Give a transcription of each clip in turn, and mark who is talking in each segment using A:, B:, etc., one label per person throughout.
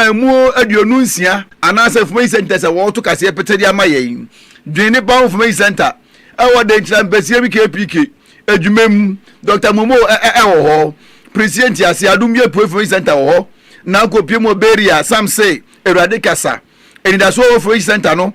A: Mmuo aduonu nsia anaa sɛ Information Centre sɛ wɔɔto kaseɛ pete de ama yɛn. Dwen Nipa ho Information Centre ɛwɔ Denkyira Mpɛseɛ bi KPK adwuma mu. Doctor Momoh ɛ ɛ ɛwɔ hɔ. Preseɛ Nteaseɛ Adom bi Apueɛ Information Centre wɔ hɔ. Nankɔ Pie mu wɔ Beria, Sam se, Awurade kasa. Anidasoɔ wɔ Information Centre no.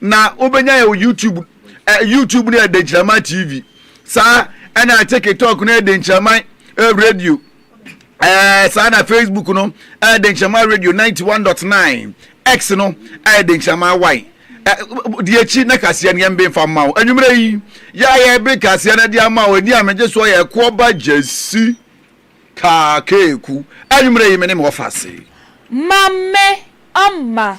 A: na wobɛnya yɛ youtube eh, youtube no yɛ denkyiraman tv saa ɛna tiktok no yɛ denkyiraman eh, radio eh, saa na facebook no ɛyɛ eh, denkyiraman radio 91.9 x no ɛyɛ eh, denkyiraman y eh, deɛ akyi na kaseɛ no yɛmbe mfa mma wo anwummerɛ yi yɛayɛ be kaseɛ no de ama wo ɛni a megye soɔ yɛ ɛkoɔ ba gyasi kaakeeku anwummerɛ yi me ne me wɔfa ase ma me ama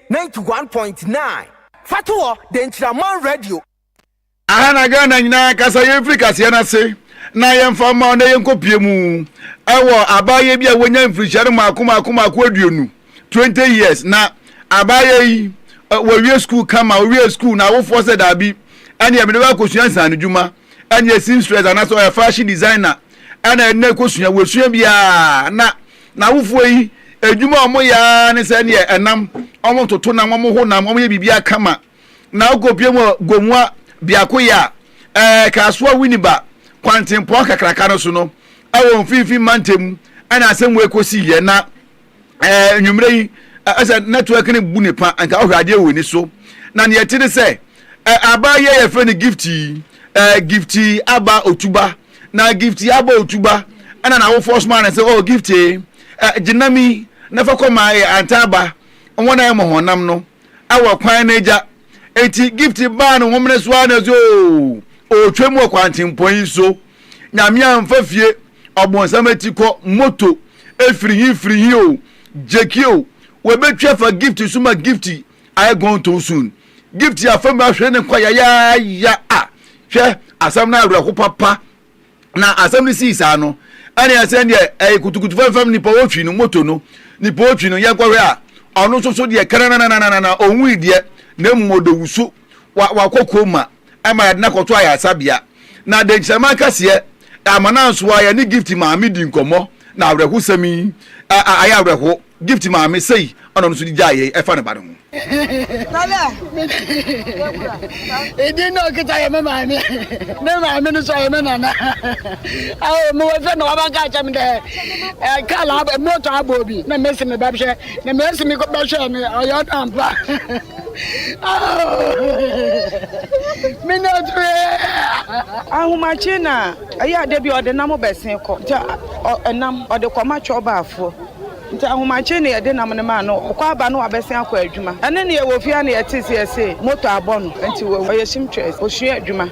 B: ninety one point nine. Fa to hɔ de nkyerɛ aman radio.
A: Aha na Ghana nyinaa kasa yɛn firi kaseɛ no ase na yɛn fa mma wɔn na yɛn kɔ pie mu ɛwɔ abaayɛ bi a wɔnya mfirihyia no maako maako maako aduonu twenty years na abaayɛ yi wɔ wie school kama owie school na awofoɔ sɛ daabi ɛne yɛ mede wakɔ sua nsan no dwuma ɛne yɛ seamstress anasɛ ɔyɛ fashion designer ɛna ɛna ɛkɔ sua wɔ sua biara na N'awofoɔ yi adwuma a wɔyɛ ara ne sɛ neɛ ɛnam, wɔtoto nam, wɔho nam, wɔyɛ biribiara kama. Na wokɔpue mu Gomoa biakoyɛ a ɛɛ Kasoa Winneba kwantempɔn kakraka no so no, ɛwɔ mfimfini mantam mu ɛna asɛm wei kɔsiiɛ. Na ɛɛ anwummerɛ yi ɛsɛ network no bu ne pa, nka wohwɛ adeɛ wɔ ani so. Na neɛ ɛte ne sɛ ɛɛ abaa yi a yɛfrɛ no Gift yi, ɛɛ Gift Aba Otuba Na Giftie abɔɔ tuba na n'awofoɔ somaa no sɛ, O Giftie, gye nam yi na fa kɔma yɛ antaaba, wɔn a ɛyɛ mmɔhɔnam no, wɔ kwan no agya. Enti Giftie baa no homene so ara na ɔse, O, ɔretwam wɔ kwantempɔn yi so, Nyame amfa fie, ɔbonsam akyi kɔ, moto, firi he firi he o, gyeki o, wɔbɛtwi afa Giftie so ma Giftie ayɛ gɔntɔn soon. Gift yɛ afa mu ahwere ne nkwa yayaaya a, hwɛ, asɛm no awerɛho papa. Na asɛm no sii saa no, ɛne ɛsɛn deɛ ɛyɛ kutukutu fɛmfɛm nipa otwi no, moto no, nipa otwi no, yɛnkɔhwɛ a, ɔno nso so deɛ kɛnɛnɛnɛnɛnɛnɛnɛ, ɔnwui deɛ, na mmom ɔda wusu, wa, wakɔ koma. ɛma yɛde no akɔto ayaresabea. Na denkyirɛma akɛseɛ ɛama no anso a yɛne Gift maame di nkɔmmɔ na awerɛhosɛm yi a ayɛ awerɛho Gift maame sei ɛna ɔno nso de gyae yɛn ɛfa ne ba no ho.
C: Edin na ɔkita yɛ me maame me maame no nso ɔyɛ me nana awo me wɔ fɛ na waba ka kyɛm dɛ ɛɛ kaala moto abɔ bi na mesi me ba hwɛ na mesi me kɔ bɛhwɛ no ɔyɛ ɔno ampa. Ahomakye na
D: ɛyɛ a da bi ɔde nam bɛsen kɔ. Nti ɛnam, ɔde kɔma kyɔbaafoɔ. Nti ahomakye na yɛde nam no maa no. Ɔkɔ aba na wabɛsen akɔ adwuma. Ɛno na yɛwɔ fie ha na yɛte se yɛse motor abɔ no. Nti wawu. Ɔyɛ seamtress. Ɔsua adwuma.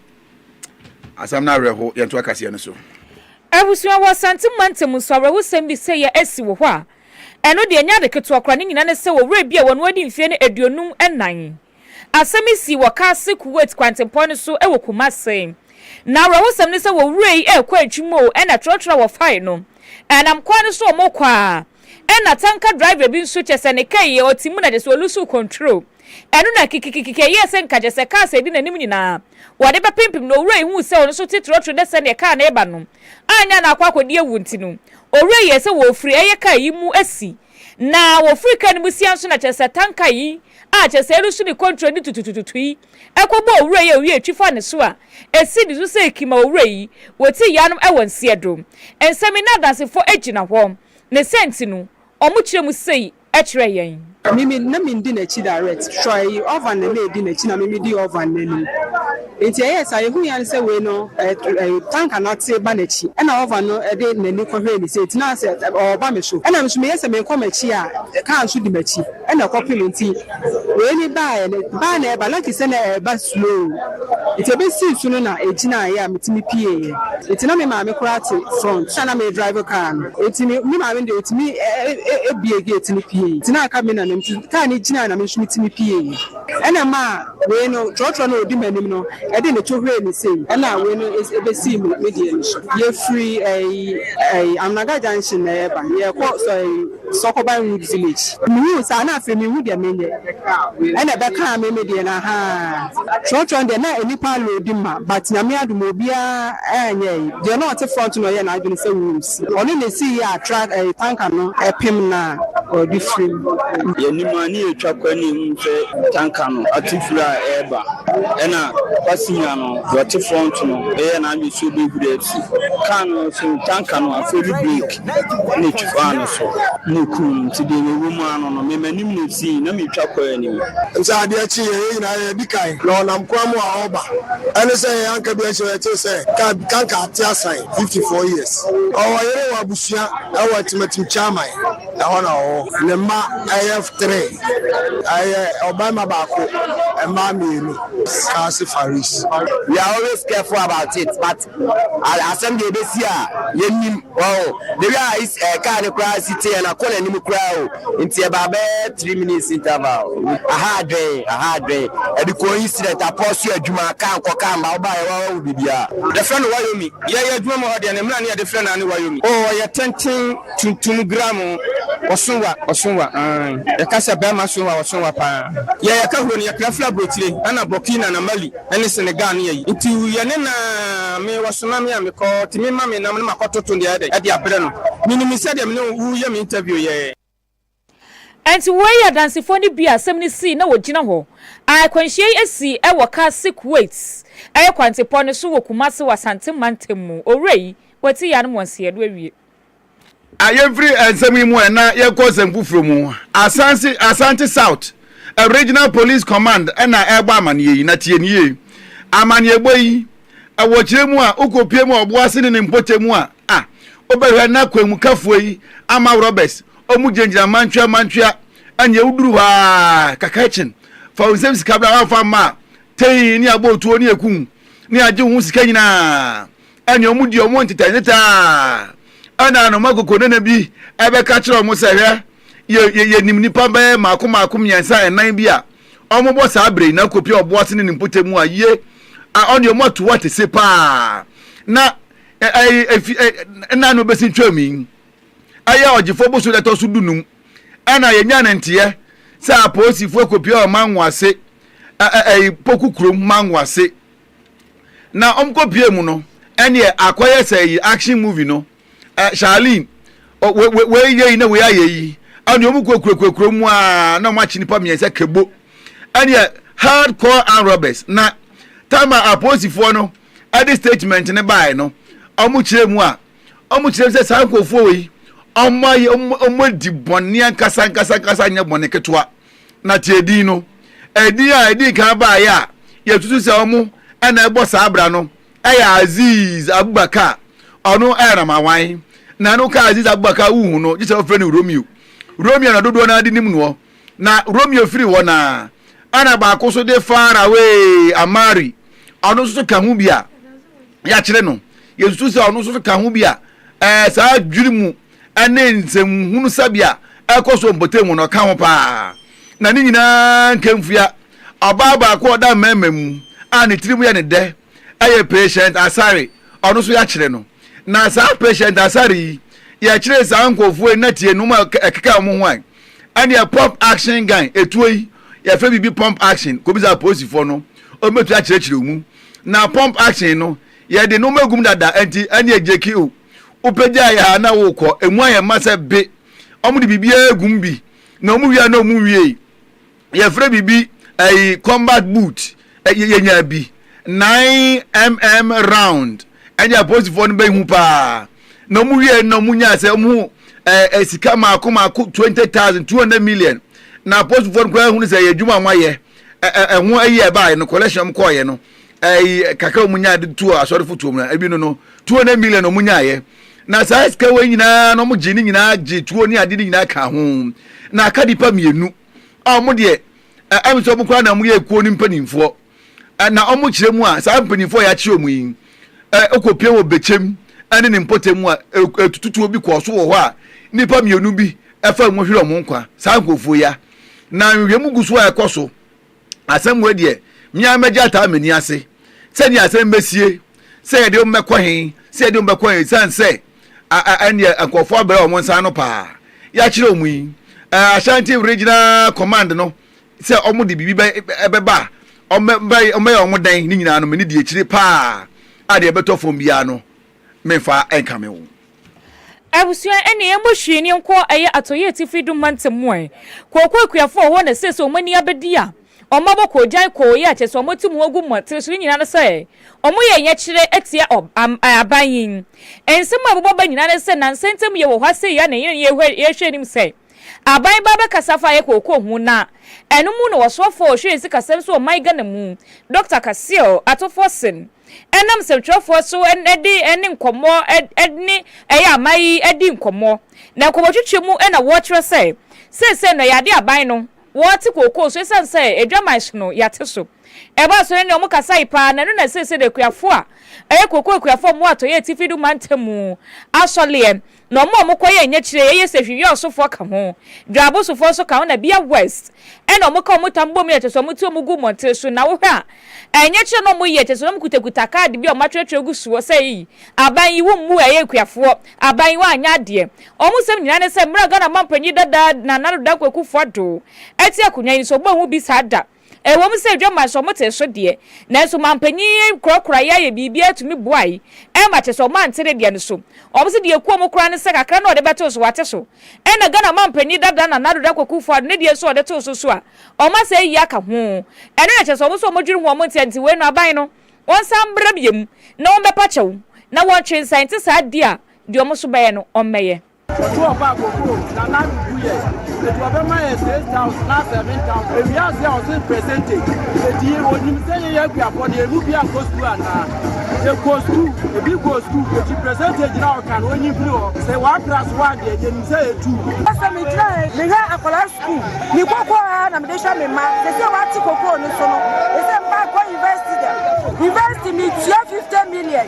A: Asɛm no awerɛho, yɛnto akaseɛ no so. Abusua
E: wɔ Asante mantam nso awerɛhosɛm bi sɛ yɛ asi wɔ hɔ a, ɛno deɛ ɛnyɛ ade ketewa koraa, ne nyinaa ne sɛ owura bi a wɔn adi mfeɛ no aduonum nnan. Asɛm yi sii wɔ Kase, Kuwait kwantempɔn no so wɔ Kumase. Na awerɛhosɛm ne sɛ owura yi rekɔ adwuma o, ɛna trɔtrɔ a wɔfae no, ɛnam kwan no so a wɔkɔ a, ɛna tanka driver bi nso, kyerɛ sɛ ne kaa yi ɔte mu na kyerɛ sɛ ɔlusuw control. Ɛno na kikikiki ɛyɛɛ sɛ nka gyesɛ car sɛ edi n'anim nyinaa wɔde bɛpempem no. Owura yi hui sɛ ɔno nso te trɔtrɔ dɛ sɛdeɛ car no reba no annya no akɔ akɔdi awu nti no, owura yi yɛɛ sɛ wɔrefiri ɛyɛ car yi mu asi. Na wɔfiri car no mu sia nso na kyerɛsɛ tanka yi a kyerɛsɛ ɛresu ne kɔntro no tututututu yi kɔbɔɔ owura yi a owia twi faa ne so a ɛsi ne so sɛ ɛki ma owura yi wɔti yanom ɛwɔ nseɛ do. Nsɛm yi n'adansefɔ gyina hɔ ne sɛ nti no wɔkyerɛ mu sei. kyerɛ yɛn. Mimi na mindi
F: n'akyi direct sure eyi orphan na na edi n'akyi na mimi di orphan no anim nti ɛyɛɛ saa yɛhui ara ne sɛ wei no ɛɛ tanka no ate ba n'akyi ɛna orphan no ɛde n'ani kɔhwɛɛ ne sɛ ɛgyina sɛ ɔreba me so ɛna me nso meyɛ sɛ merekɔ m'akyi a car nso di m'akyi ɛna ɛkɔpem nti Wei ne baeɛ no, baeɛ na ɛba, like sɛ na ɛba slow. Nti ɛbɛsii so no na ɛgyinaeɛ a metumi pieeɛ. Nti na me maame koraa te front na na meredrive car no. Nti me me maame no deɛ ɔtumi buee gate no pieeɛ. Nti na aka me na me nti car no gyinaeɛ na me nso metumi pieeɛ. Ɛna ɛmaa wei no, trɔtrɔ no a ɔdi m'anim no de ne to huree me sei. Ɛna wei no ɛbɛsii me me deɛ no so. Yɛfiri ɛyi ɛyi Amnaga junction na yɛreba, yɛrekɔ sɔɛ. Sɔkɔban Wood Village. Mihuu saa na afei minhu deɛ menyɛ. Ɛna ɛbɛkaa me me deɛ no ahaa. Trɔtrɔ no deɛ na nnipa aloodi ma but Nyame adom obiara anyɛe. Deɛ na ɔte front no ɔyɛɛ n'adwene sɛ Wilms. Ɔno na esii a truck ɛyi tanker no ɛpem no a ɔde firi mu. Yɛnim a ne
G: yɛtwa kɔ na yɛhunu sɛ tanker no atu firi a ɛreba. Ɛna Papa Senior no deɛ ɔte front no ɛyɛɛ n'adwene sɛ ɔbɛhuri afiri car no ho so tanker no afeli break. ne twaa no so, na okum no. Enti deɛ mewɔ mu ara no no, me m'anim na ɛsii, na meretwa kɔɔ anim. Enti adeɛ kyee yɛn nyinaa, yɛn a yɛadi kan, na ɔnam kwan mu a ɔreba, ɛne sɛ yɛn anka bi anhyɛ hɔ, yɛtee sɛ kanka ateasan fifty four years. Ɔwɔ yere, ɔwɔ abusua wɔ Atimatim Kyaman, ɛhɔ na ɔwɔ. Ne mma yɛ three, ɛyɛ ɔbarima baako, mmaa mmienu. Kasi Faris. We are always careful about it but asɛm deɛ ɛbɛsi a yɛnim ɔho na wi a is- eh, kaa no koraa si teɛ na kɔ n'anim koraa o nti ɛbaa bɛyɛ three minutes interval aha adwen aha adwen ɛde kɔɔ incident apɔ so adwuma kaa nkɔ kaa mma wobaa yɛwɔ awawo biribiaa yɛfrɛ no wayomi yɛyɛ adwuma mu hɔ deɛ ne mmara ne yɛde frɛ no ane wayomi o ɔyɛ tenten tuntum gram ɔsowa ɔsowa ae yɛka sɛ bɛrima sowa ɔsowa paa yɛyɛ ka huro no yɛkra firi aburokyire ana burkina na mali ne Senegal no yɛ yi. Nti yɛne no ara me wɔsoma me a mekɔ nti me ma me nam no makɔ toto deɛ ayɛ dɛn de abrɛ no. Menim sɛdeɛ me ne wo wo yɛ me interview yɛ.
E: Ɛnti woi yɛ adansefoɔ no bi a asɛm no sii na wɔgyina hɔ. A akwanhyia yi asi wɔ car si Kuwait kwantepɔ no so wɔ Kumasi wɔ Asante mantam mu. Owura yi, Kwati Yanom Wansiɛ no awie. a
A: yɛmfiri nsɛm yi mu ɛ na yɛkɔ nsɛm foforɔ mu asanse asante south a regional police command ɛna ɛbɔ amaneɛ yi na tie ne yie amaneɛ bɔ yi ɛwɔ kyerɛ mu a wokɔpie mu a ɔboa se ne ne mpɔkyɛ mu a a wobɛhwɛ na kwanmukafoɔ yi ama roberts ɔmu gyinagyina mantwea mantwea ɛneɛ woduru hɔ a kaka kyen fa wo nsɛm sika bra wafa mma a tei ne abɔ otuo ne ɛku ne agye wo ho sika nyinaa ɛne wɔn di wɔn ntetɛntetɛ a ɛna anoma kokonana bi ɛbɛka kyerɛ wɔn sɛ hwɛ yɛ yɛ yɛnim nipa bɛyɛ mako mako mmiɛnsa ɛnan bi a wɔbɔ saa bere yi na kopi a ɔboa sene ne mpɔtam mu a yie a ɔne wɔn ato wɔte se paa na ɛyɛ efi ɛ ɛna na ɔbɛsi twam yi ɛyɛ ɔgyefoɔ boso na ɛtɔ so du num ɛna yɛnya ne nteɛ sɛ apolisifoɔ kopi a ɔma nwo ase ɛɛ poku kurom ma nwo ase na wɔn kɔ pie mu no ɛneɛ akɔyɛ sɛ yi action movie no ɛ Charlene ɔ wei yɛ yi na wei ayɛ yi ɛneɛ wɔn kɔ kurokurokurom mu a na wɔn akyi nipa mmiɛnsa kebo ɛneɛ hardcore armed robbers na tama apolisifoɔ no ɛde statement ne baeɛ no wɔn kyerɛ mu a wɔn kyerɛ mu sɛ saa nkurɔfoɔ wei wɔn ayɛ wɔn adi bɔnne ankasa ankasa ankasa nyɛ bɔnne ketewa Na tie edin no. Edin a edii kan baeɛ a yɛsusu sɛ wɔn na ɛbɔ saa abira no yɛ Aziz Abubakar. Ɔno yɛ Ramawan. Na ɛno ka Aziz Abubakar a wohu no gye sɛ wɔfrɛ no Romeo. Romeo na dodoɔ no ara de nim noɔ. Na Romeo firi hɔ no ara, ɛna baako nso de Far Away Amari, ɔno nso so ka ho bi a yɛakyerɛ no. Yɛsusu sɛ ɔno nso so ka ho bi a ɛɛ saa dwiri mu. ne nsɛmhunu sɛbea a ɛkɔ so wɔ mpɔtam hɔ no, ɔka ho paa. Na ne nyinaa nka mfua. Ɔbaa baako a ɔda mmarima mu a ne tirim yɛ no dɛ yɛ Patient Asare, ɔno nso yɛakyere no. Na saa Patient Asare yi, yɛkyeree saa nkurɔfoɔ yi na tie nnoɔma a ɛkeka wɔn ho a ɛneɛ Pump Action Gang, etuo yi, yɛfrɛ biribi Pump Action, kɔbisa apolisifoɔ no, wɔbɛtumi akyerɛkyerɛ wo mu. Na Pump Action no, yɛde nnoɔma agu mu dada nti ɛneɛ Jackie o. Wobɛgyaa yɛ ha na wokɔ? Ɛmu ayɛ ma sɛ be. Wɔde biribiara gum bi, na wɔwie a na wɔnwiei. Yɛfrɛ biribi ɛyi combat boot. Yɛ, yɛnyaa bi. 9mm round. Ɛnneɛ apolisifoɔ no bɛhu paa. Na wɔwie no na wɔnyaa sɛ wɔn ho ɛɛ ɛ, sika maako maako 20,000, 200 million. Na apolisifoɔ no koraa hunu sɛ ɛyɛ adwuma a wɔayɛ. Ɛ, ɛ, ɛho ayi a ɛbaeɛ no, collection a wɔkɔeɛ no, Ɛyi kakra a wɔn nyaa de tuo asɔrefo tuo mu na ebi no no two hundred million wɔn nyaayɛ na saa sika wei nyinaa na wɔn gye ne nyinaa gye tuo ne ade ne nyinaa ka ho na aka nipa mmienu a wɔn deɛ ɛm sɛ wɔn koraa na wɔn yɛ ekuo ne mpanimfoɔ na wɔn kyerɛ mu a saa mpanimfoɔ a yɛakye wɔn yi ɛkɔ pie wɔ bɛkyɛm ɛne ne mpɔtam mu a etututuo bi kɔɔ so wɔ hɔ a nipa mmienu bi ɛfa mu hwere wɔn nkwa saa nkurɔfoɔ yi a na nhwehwɛmu gu so a ɛkɔ so. Asɛm wei deɛ me ara mɛgye ataa m'ani ase sɛdeɛ asɛm bɛsie sɛ yɛde wɔn bɛkɔ he sɛ yɛde wɔn bɛkɔ he ɛsiane sɛ ɛneɛ nkurɔfoɔ abrɛ wɔn nsa ano paa yɛakyerɛ wɔn yi Ashanti Regional Command no sɛ wɔn de biribi bɛba a wɔbɛyɛ wɔn dɛn ne nyinaa no mene di akyire paa a deɛ ɛbɛtɔ fam biara no memfa nkame wo. Abusua
E: ɛne ɛmmɔ hwee ni nkɔ ɛyɛ atɔeɛ atifi dum mantam mu ɛ kɔɔkɔ akuafoɔ wɔ hɔ na seesei wɔn ani abɛdi a wɔn abɔ kɔɔ gyan kɔɔ yɛ kyerɛ sɛ wɔn atu mu agu mmɔten so ne nyinaa ne sɛ wɔn yɛ nyɛkyerɛ atia aban yi nsɛm a ɛbobɔ aba nyinaa ne sɛ nansa ntam yɛ wɔ hɔ asei a na yɛn yɛhwɛ anim sɛ aban ba bɛkasa fa yɛ kɔɔkɔ ho na ɛno mu na ɔsoafoɔ ɔhwɛ sikasɛm so wɔ man Ghana mu Dɔkta Kaseɛ Atofoɔ sen ɛnam nsɛmtwerɛfoɔ so de ne nkɔmmɔ ne ɛyɛ aman yi di nkɔmmɔ. Na nkɔmmɔtwitwi mu na wɔkyerɛ sɛ seesei no ɛyɛ adeɛ a aban no wɔte kookoo so ɛsiane sɛ adwaman hye no yɛate so. Ɛbaa so no ne wɔn kasae pa ara na ɛno na seesei no akuafoɔ a ɛyɛ kookoo akuafoɔ a wɔwɔ Atɔeɛ Atifi no mantam mu asɔleɛ na wɔn a wɔkɔyɛɛ nyakyire yɛ yɛ sɛ hwihwɛ ɔsofoɔ ka ho, dwaabo sofoɔ nso ka ho na bia west ɛna wɔka wɔn tam bom yɛ kyɛsɛ wɔn ti wɔn gu mmɔnten so na wohwɛ a ɛyɛ nyakyire na wɔyɛ kyɛsɛ wɔn kutakuta kaad bia wɔn atwerɛtwerɛ gu soɔ sɛ eii aban yi wo mmu ɛyɛ akuafoɔ aban yi wanyɛ adeɛ wɔn sɛm nyinaa ne sɛ mmerɛ a Ghana manpanyin dada Nana Addo Dankwa Akuffo Addo ɛte akonwa yi so wɔn anwu bi saa da. Ɛwom sɛ adwamma nso wɔtee so deɛ, nanso manpanyin yi korakoraeɛ ayɛ biribiara tumi boae ma kyerɛ sɛ wɔante ne deɛ no so. Wɔse deɛ ɛku wɔn koraa ne sɛ kakra no a wɔde bɛtoo so wɔate so. Ɛna Ghana manpanyin dada Nana Addo Dankwa Akufo-Addo ne deɛ nso a wɔde too so so a wɔn asɛe yie aka ho. Ɛno na ɛkyerɛ sɛ wɔn nso wɔdwene ho wɔn nteɛ nti wei no aban no wɔnsan mmra biom na wɔmmɛpa kyɛw na wɔntwe nsan nte saa di a deɛ wɔn nso bɛyɛ no wɔmmɛyɛ. Wɔde wɔn baa Bokoo
H: na na no gu yɛn nti wɔbɛma yɛn six thousand na seven thousand ewie ase a wɔte percentage eti onim sɛ yɛyɛ akuapɔ no emu bi ankɔ sukuu anaa yɛkɔ sukuu ebi kɔ sukuu eti percentage na ɔka no onyi firi hɔ sɛ wɔapra so a deɛ yɛnim sɛ yɛtu. Sɛ megyina
D: yɛ mehwɛ akwadaa sukuu ne koko a na mede hwɛ me mma sɛ sɛ wɔate koko no so no ɛsɛ mma kɔ university dɛ university metua fifty million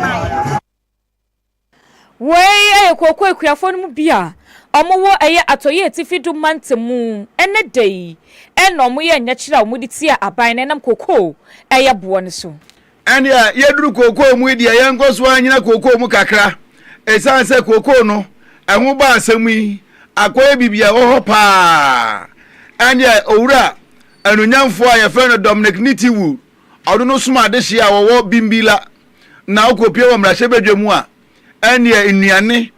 I: mae.
E: Woi yɛ kooko akuafoɔ no mu bi a ɔmo wɔ ɛyɛ atɔyɛ atifi do mantamu. Ɛnɛ da yi na ɔmo yɛ nyɛkyerɛ a ɔmo de tia aban no ɛnam kooko ɛyɛ boɔ no so. Ɛnea
A: yɛduru kooko mu yi deɛ yɛnkɔ so ara nyina kooko mu kakra. Ɛsiane sɛ kooko no ɛho bɔ asɛm yi akɔyɛ biribi a ɛwɔ hɔ pa ara. Ɛnea Owura Anuonyamfoɔ a yɛfrɛ no Dominic Nitiwul Ɔno no soma adehye a wɔwɔ Bimbilla na ɔkɔpue wɔ mmarahyɛbadwa mu a ɛnneɛ nnuane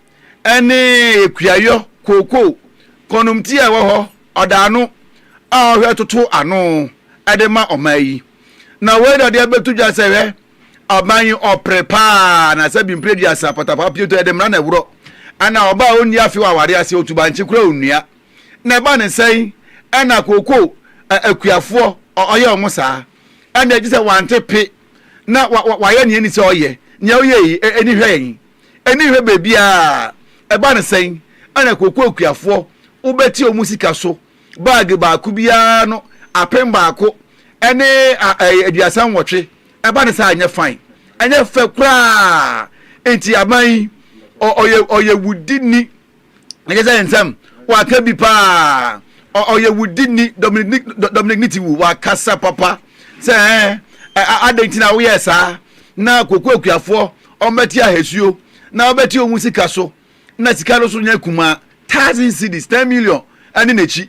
A: ne kuayɔ, kookoo, kɔnnomti a ɛwɔ hɔ ɔda ano a ɔhwɛ toto ano de ma ɔman yi. Na wei na ɔde abɛto dwa sɛ hwɛ, ɔman yi ɔpere pa ara na sɛ bi mprɛ duasa pɔtapaa pioto ɛde mmara na ɛworɔ. Ɛna ɔbaa a ɔnni afe wɔ awareɛ ase, ɔtu bankye koraa ɔnnua. na ɛba ne sɛn ɛna kooko ɛ akuafoɔ ɔ ɔyɛ wɔn saa ɛna gye sɛ wante pe na wa wa wayɛ nea ɛni sɛ ɔyɛ nea ɔyɛ yi ɛ ɛni hwɛ yɛn ɛni hwɛ baabiara ɛba ne sɛn ɛna kooko akuafoɔ wobɛti wɔn sika so baage baako biara no apem baako ɛne a ɛ aduasa nwɔtwe ɛba ne sɛ anyɛ fine ɛnyɛ fɛ koraa nti aban yi ɔ ɔyɛ ɔyɛ wudini. ɛnyɛ sɛ nsɛm waka bi paa ɔyɛ wudini dominic dominic ne ti wu wakasa papa sɛ ɛɛ adɛn nti na woyɛɛ saa na koko akuafoɔ ɔmbɛte ahasuo na ɔbɛte ɔmu sika so na sika no so nyɛ kuma thousand cities ten million ɛne n'akyi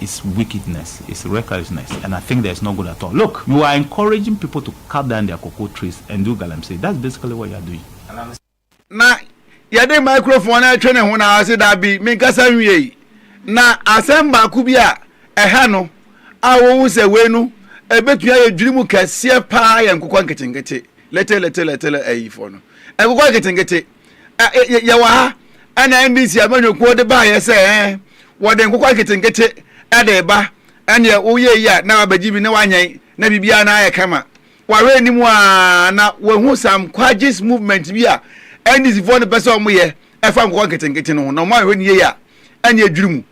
J: is wickedness is recklessness and I think there is no good at all look you are encouraging people to cut down their cocoa trees and do galamsey that's basically what you are doing. Na
A: yɛde microphone no retwe ne ho na ɔse dabi menkasa nwiei na asɛm baako bi a ɛha no a wohu sɛ wei no ɛbɛtumi ayɛ dwiri mu kɛseɛ paa yɛ nkokɔ nketenkete little little little ayifoɔ no nkokɔ nketenkete yɛwɔ ha ɛna ndc amanyɔkuo de baayɛ sɛ ɛɛ wɔde nkokɔ nketenkete ɛde ba ɛneɛ woyɛ yi a na wabɛgye bi na wanyɛn na biribiara na ayɛ kama wahwɛ anim a na wahu some quagis movement bi a ndc foɔ no pɛ sɛ ɔmo yɛ ɛfa nkokɔ nketenkete no ho na ɔmo ahwɛ ne yie a ɛneɛ dwiri mu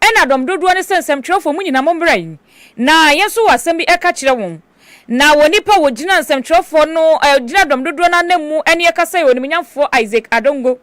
E: Ɛna dɔm dodoɔ no sɛ nsɛmtwerɛfoɔ mo nyinaa mommra yi na yɛn nso wɔ asɛm bi ɛka kyerɛ wɔn. Na wɔ nipa a wɔgyina nsɛmtwerɛfoɔ no gyina dɔm dodoɔ no ananmu ɛne ɛka sɛ yɛ ɔnimnyamfoɔ Isaac Adongo.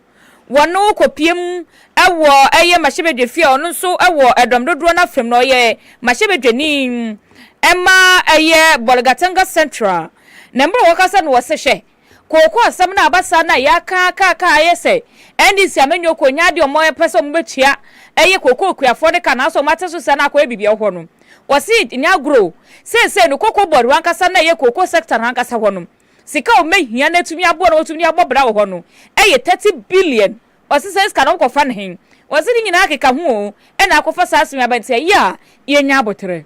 E: Wɔ no kɔ piem ɛwɔ ɛyɛ mahyɛbɛdwa fie a ɔno nso ɛwɔ ɛdɔm dodoɔ no afam na ɔyɛ mahyɛbɛdwani ɛma ɛyɛ Bolgatanga central na mbrɛ wɔka sɛ no wɔ se hwɛ Kooko asɛm no a aba saa no a yɛaka aka aka a ayɛ sɛ NDC amanyɔkuo nyɛ adeɛ a wɔpɛ sɛ wɔbɛtua ɛyɛ kooko okuafoɔ no ka nanso wɔate so sɛ na akɔyɛ biribi wɔ hɔ no. Wɔse nyɛ agorɔ o, seesei no Cocoa Board hɔ ankasa no a ɛyɛ kooko sector no ankasa hɔ no, sika a wɔbɛhia na atumi aboa na wɔatumi de abɔ bra wɔ hɔ no yɛ thirty billion. Wɔse saa sika no wɔkɔfa no he? Wɔse ne nyinaa keka ho o, ɛna akɔfa saa asɛm yi aba nti ɛyɛ a yɛnya aboterɛ.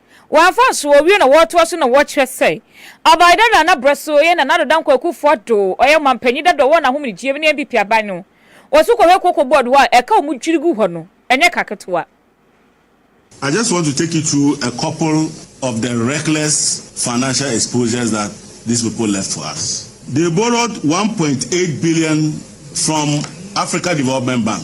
E: Wɔamfa anso owie na wɔretoa so na wɔkyerɛ sɛ ɔbae dɛ Nana Brɛso yɛ Nana Addo Dankwa Akuffo Addo, ɔyɛ ɔmampanyin dada a ɔwɔ n'ahomegyeɛ mu ne NPP aban no. Wɔso kɔhwɛ Cocoa Board hɔ a ɛka a wɔdwiri gu hɔ no, ɛnyɛ ka ketewa.
K: I just want to take you through a couple of the reckless financial exposures that these people left for us. They borrowed one point eight billion from Africa Development Bank.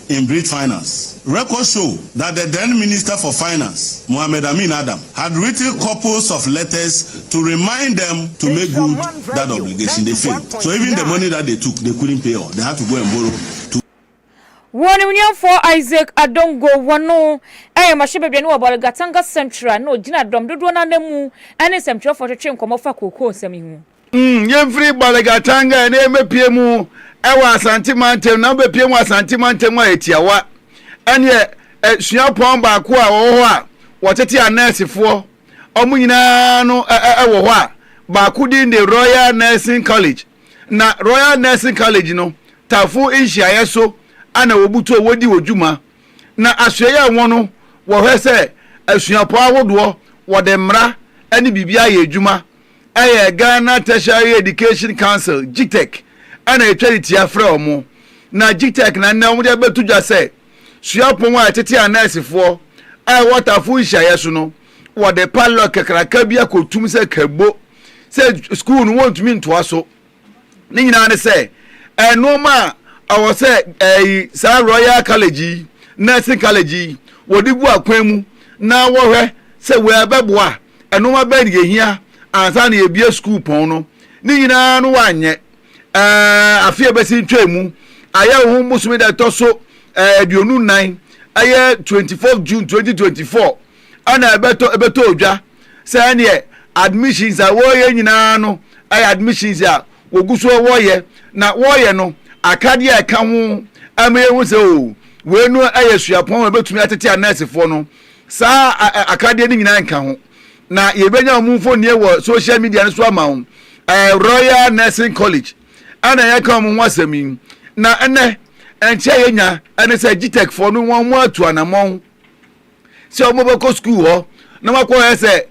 K: in Greek finance. Records show that the then Minister for Finance, Mohamed Amin Adam, had written couples of letters to remind them to make good that obligation. They failed. So even the money that they took, they couldn't pay all. They had to go and borrow to. Wɔ ne
E: nuafoɔ Isaac Adongo wɔ no yɛ mmarahyɛbadwani wɔ Bolgatanga Central na ɔgyina dɔm dodoɔ no ara mu ne nsɛmtwerɛfoɔ twetwee nkɔmmɔ fa kookoo nsɛm yi ho. Umm yɛmfiri
A: Balegatanga na yɛmmɛpie mu ɛwɔ Asante mantam na wobɛpie mu Asante mantam a ɛtiawa ɛneɛ suapɔn baako a wɔwɔ hɔ a wɔtete anɛɛsefoɔ ɔmo nyinaa no ɛwɔ hɔ a baako din de Royal Nursing College na Royal Nursing College no tafo nhyiaeɛ so ana wɔbutuo wɔdi wɔ dwuma na asoɛyɛ a wɔn no wɔhwɛ sɛ asuapɔn ahodoɔ wɔde mmara ɛne biribi ayɛ adwuma Ɛyɛ Ghana Tertiary Education Council, GTEC, na etwa de tia frɛ wɔn. Na GTEC na nnɛ wɔde abɛto dwa sɛ suapɔn a ɛtete anɛɛsefoɔ a ɛwɔ Atafo Nhyiaeɛ so no, wɔde padlock kakraka bi akɔtum sɛ kɛbo sɛ sukuu no wɔntumi ntoa so. Ne nyinaa ne sɛ, nnoɔma a ɛwɔ sɛ ɛyi saa Royal College yi, Nursing College yi, wɔde gu akwan mu na wɔhwɛ sɛ wei ɛbɛboa a, nnoɔma bɛn na yɛhia ansa na yɛabue sukuupɔn no. Ne nyinaa no wɔanyɛ. Afe a ɛbɛsi ntwaam mu, ayɛ wo ho bosome da ɛtɔ so aduonu nnan, ɛyɛ 24th June 2024. ɛna ɛbɛtɔ ɛbɛtɔ odwa sɛ ɛneɛ admissions a wɔyɛ nyinaa no ɛyɛ admissions a wɔgu so wɔyɛ na wɔyɛ no akadeɛ a ɛka ho ɛma yɛhu sɛ o wei no ɛyɛ suapɔn a ɛbɛtumi atete a nɛɛsefoɔ no saa akadeɛ no nyinaa nka ho na yɛbɛnya wɔn mfonie wɔ social media no so ama wɔn ɛɛ Royal Nursing College ɛna yɛka wɔn ho asɛm yi na ɛnɛ nkyɛn yɛnya ɛne sɛ GTEC foɔ no wɔn mo atu anamɔn sɛ wɔbɛkɔ sukuu hɔ na wɔakɔyɛ sɛ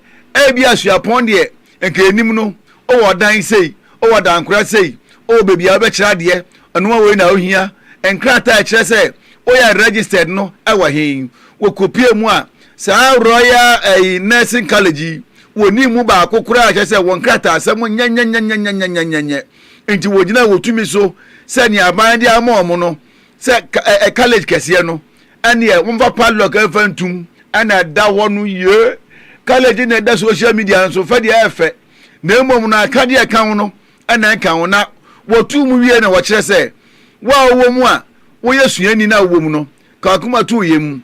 A: ebia suapɔn deɛ nka ɛnim no, wowɔ ɔdan sei, wowɔ adankora sei, wowɔ baabi a wobɛkyerɛ adeɛ, ɛnoa wei na wohia, nkrataa a ɛkyerɛ sɛ woyɛ registered no wɔ he? Wɔkɔpie mu a, saa Royal ɛyi, Nursing College yi, wɔnni mu baako koraa kyerɛ sɛ wɔn nkrataasɛm nyɛ nyɛnyɛnyɛnyɛnyɛnyɛnyɛ. Nti wɔgyina wɔtumi so sɛ nea aban de ama wɔn no, sɛ ka, ɛ, ɛ, college kɛseɛ no, Ɛneɛ momfa padlock mfa ntum ɛna ɛda hɔ no ye. Kalagye na ɛda social media nso fɛ deɛ ɛyɛ fɛ na mmom no akadeɛ a ɛka ho no ɛna ɛnka ho na wɔtuu mu wieɛ na wɔkyerɛ sɛ wo a wowɔ mu a woyɛ suani na wowɔ mu no ka wakoma to yɛ mu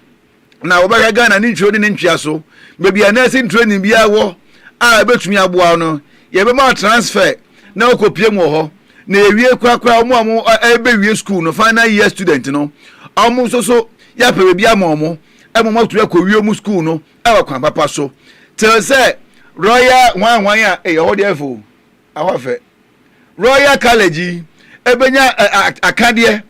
A: na wɔbɛhwɛ Ghana ne ntwire ne ne ntwea so baabi a nursing training biara wɔ a ɛbɛtumi aboa wo no yɛbɛma wo transfer na wokɔpie mu wɔ hɔ na yɛwie korakora wɔn a wɔrebɛwie sukuu no final year student no wɔn nso so yɛapɛ baabi ama wɔn ɛma wɔn atumi akɔwie wɔn sukuu no ɛwɔ kwan papa so te sɛ royal hwan hwan a ɛyɛ hɔ deɛ fo ɛhɔ afɛ royal college yi ɛbɛnya akadeɛ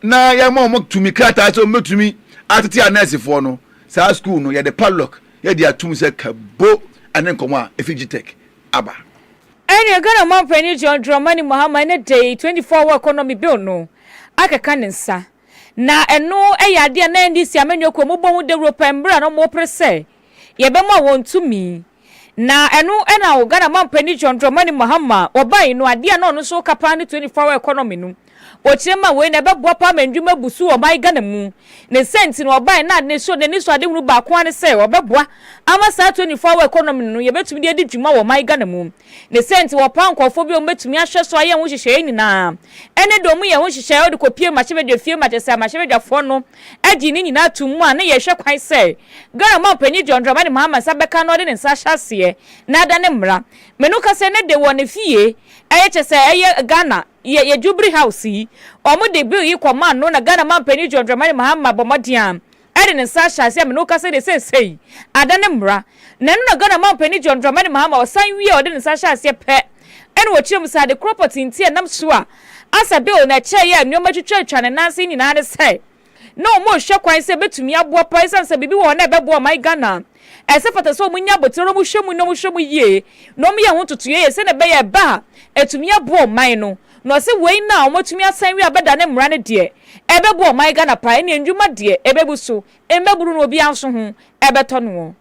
A: na yɛma wɔn tumi krataa sɛ wɔbɛtumi atete anɛɛsefoɔ no saa sukuu no yɛde padlock yɛde atum sɛ kabo ɛne nkɔmɔ a ɛfi gtech aba Ɛnneɛ
E: Ghana Ɔmanpanin John Dramani Mahama ne da yi 24 Hour Economy Bill no akeka ne nsa. Na ɛno yɛ adeɛ a na NDC amanyɔkuo mu bɔ ho dawuro pɛɛ mberɛ a na wɔrepere sɛ yɛbɛma wɔn tumi. Na ɛno na Ghana Ɔmanpanin John Dramani Mahama ɔbaeɛ no adeɛ a na ɔno nso reka paa ne 24 Hour Economy no. Bokyerɛ ma wei na ɛbɛboa paa ma ndwuma abu so wɔ ɔman Ghana mu. Ne nsɛm nti na ɔbae na ne so n'anisoadehunu baako ara ne sɛ ɔbɛboa ama saa 24 hour economy no no yɛbɛtumi de adi dwuma wɔ ɔman Ghana mu. Ne sɛ nti wɔpaa nkurɔfoɔ bi a wɔbɛtumi ahwɛ so ayɛ ho nhyehyɛeɛ nyinaa. Ɛne deɛ wɔyɛ ho nhyehyɛeɛ a wɔde kɔpie mmarahyɛbadwafie ma kyerɛ sɛ mmarahyɛbadwafoɔ no gye ne nyinaa tom mu a na yɛhwɛ kwan sɛ Ghana Ɔmanpanin John Dramani Mahama nsa bɛka na ɔde ne nsa ahyɛ aseɛ na ada ne mmara. Me no kasa ne de wɔ ne fie ɛyɛ kyerɛ sɛ ɛyɛ Ghana Yɛ yɛ Jubilee House yi. Wɔn de bill yi kɔ man no na Ghana man panyin John Dramani Mahama bɔ mmɔden a ɛde ne nsa ahyɛ aseɛ a me ne wo kasa yi deɛ seesei ada ne mmra. Na ɛno na Ghana man panyin John Dramani Mahama ɔsan wie a ɔde ne nsa hyɛ aseɛ pɛ ɛna ɔkyerɛ mu sɛ ade korɔ pɔtee nti a ɛnam so a asa bill no ɛkyɛɛ yɛ a nnoɔma twitwa atwa ne nan ase yi nyinaa ne sɛ na wɔrehwɛ kwan sɛ ebetumi aboa paa esiane sɛ biribi wɔ hɔ na ɛbɛboa ɔman Ghana a, ɛsɛ fata sɛ wɔnya abotire na wɔhwɛ mu na wɔhwɛ mu yie na wɔyɛ ho ntotoeɛ sɛdeɛ ɛbɛyɛ a ɛba a, ɛtumi aboa ɔman no. Na ɔse wei no a wɔatumi asan wie a bɛdane mmara no deɛ, ɛbɛboa ɔman Ghana paa, ɛnneɛ nnwuma deɛ ɛbɛbu so, mmabunu no obiara nso ho bɛtɔ noɔ.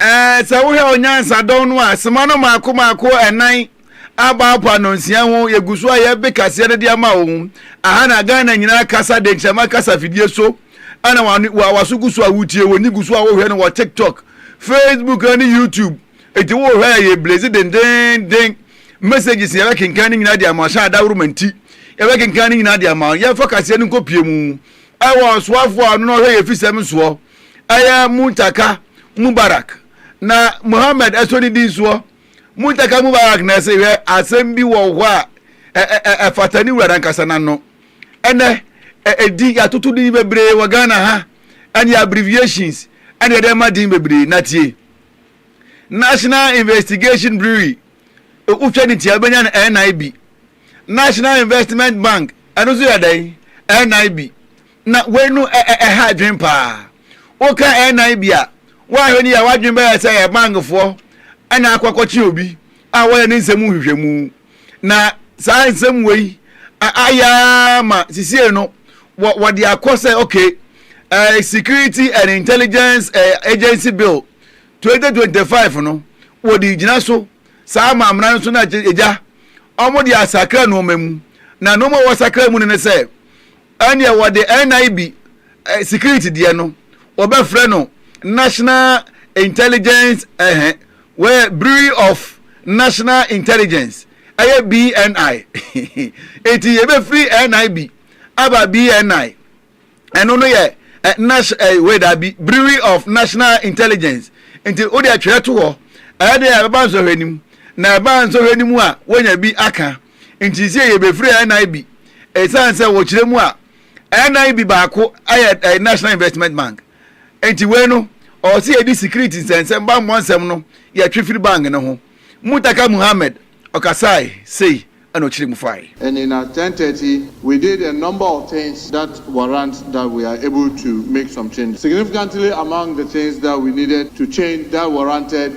E: Sɛ wohwɛ
A: onyansa dɔn no a, sema no mmaako mmaako nnan a bawpa nnɔnsia ho yɛgu so a yɛbe kaseɛ no de ama wo ho. Aha na Ghana nyinaa kasa denkyɛma kasa fidie so ɛna wa waso gu so a wotie wɔn ni gu so a wohwɛ no wɔ TikTok, Facebook ɛne YouTube. Eti wohwɛ a yɛ blaze dendeenden messages yɛbɛ kenkan no nyinaa de ama ɔhyɛ adaworoma nti yɛbɛ kenkan no nyinaa de ama yɛfa kaseɛ no nkɔ pie mu ɛwɔ ɔsoafoɔ a ɔno na ɔhwɛ yɛ fisɛm soɔ. ɛyɛ Muntaka Mubarak na Mohammed ɛsɔ ne din soɔ. Muntaka Mubarak na ɛse, Hwɛ, asɛm bi wɔ hɔ a ɛ-ɛ-ɛ ɛfata ne wura no ankasa n'ano. Ɛnnɛ, ɛ-ɛ-din, yɛatoto din bebree wɔ Ghana ha, ɛne abbreviations ɛna yɛde ma din bebree. Na tie, National Investigation Brewery, wotwa ne ti a wobɛnya no NIB. National Investment Bank, ɛno nso yɛ dɛn? NIB. Na wei no ɛha adwene paa. Woka NIB a, woanhwɛ no yie a w'adwene bɛyɛ sɛ ɛyɛ bankfoɔ na akɔ akɔkye obi a wɔyɛ ne nsɛm mu nhwehwɛmu. Na saa nsɛm wei ayɛ ara ma sesie no wɔde akɔ sɛ okay, Security and Intelligence Agency Bill 2025 no, wɔde gyina so saa amamena no so na agya wɔde asakra nnoɔma mu. Na nnoɔma a wɔsakra mu no ne sɛ, Ɛnneɛ wɔde NIB security deɛ no wɔbɛfrɛ no National Intelligence ɛhɛ wɔyɛ Bureau of National Intelligence ɛyɛ BNI enti yɛbɛfiri NIB aba BNI ɛno no yɛ nas ɛɛ wei daabi Bureau of National Intelligence nti wodeɛ twerɛ to hɔ ɛyɛ deɛ ɛbɛba nsɔhwɛ no mu na ɛba nsɔhwɛ no mu a wonya bi aka. Nti sei yɛbɛfiri NIB ɛsiane sɛ wɔkyerɛ mu a NIB baako yɛ ɛɛ National Investment Bank nti wei no ɔwɔ sɛ yɛde security nsɛnsɛm bammɔ nsɛm no yɛtwe firi bank no ho Mutaka Muhammed ɔkasae sei ɛna ɔkyerɛ mu fae. And in at
L: ten thirty we did a number of things that warrant that we are able to make some changes. Significantly among the things that we needed to change that warranted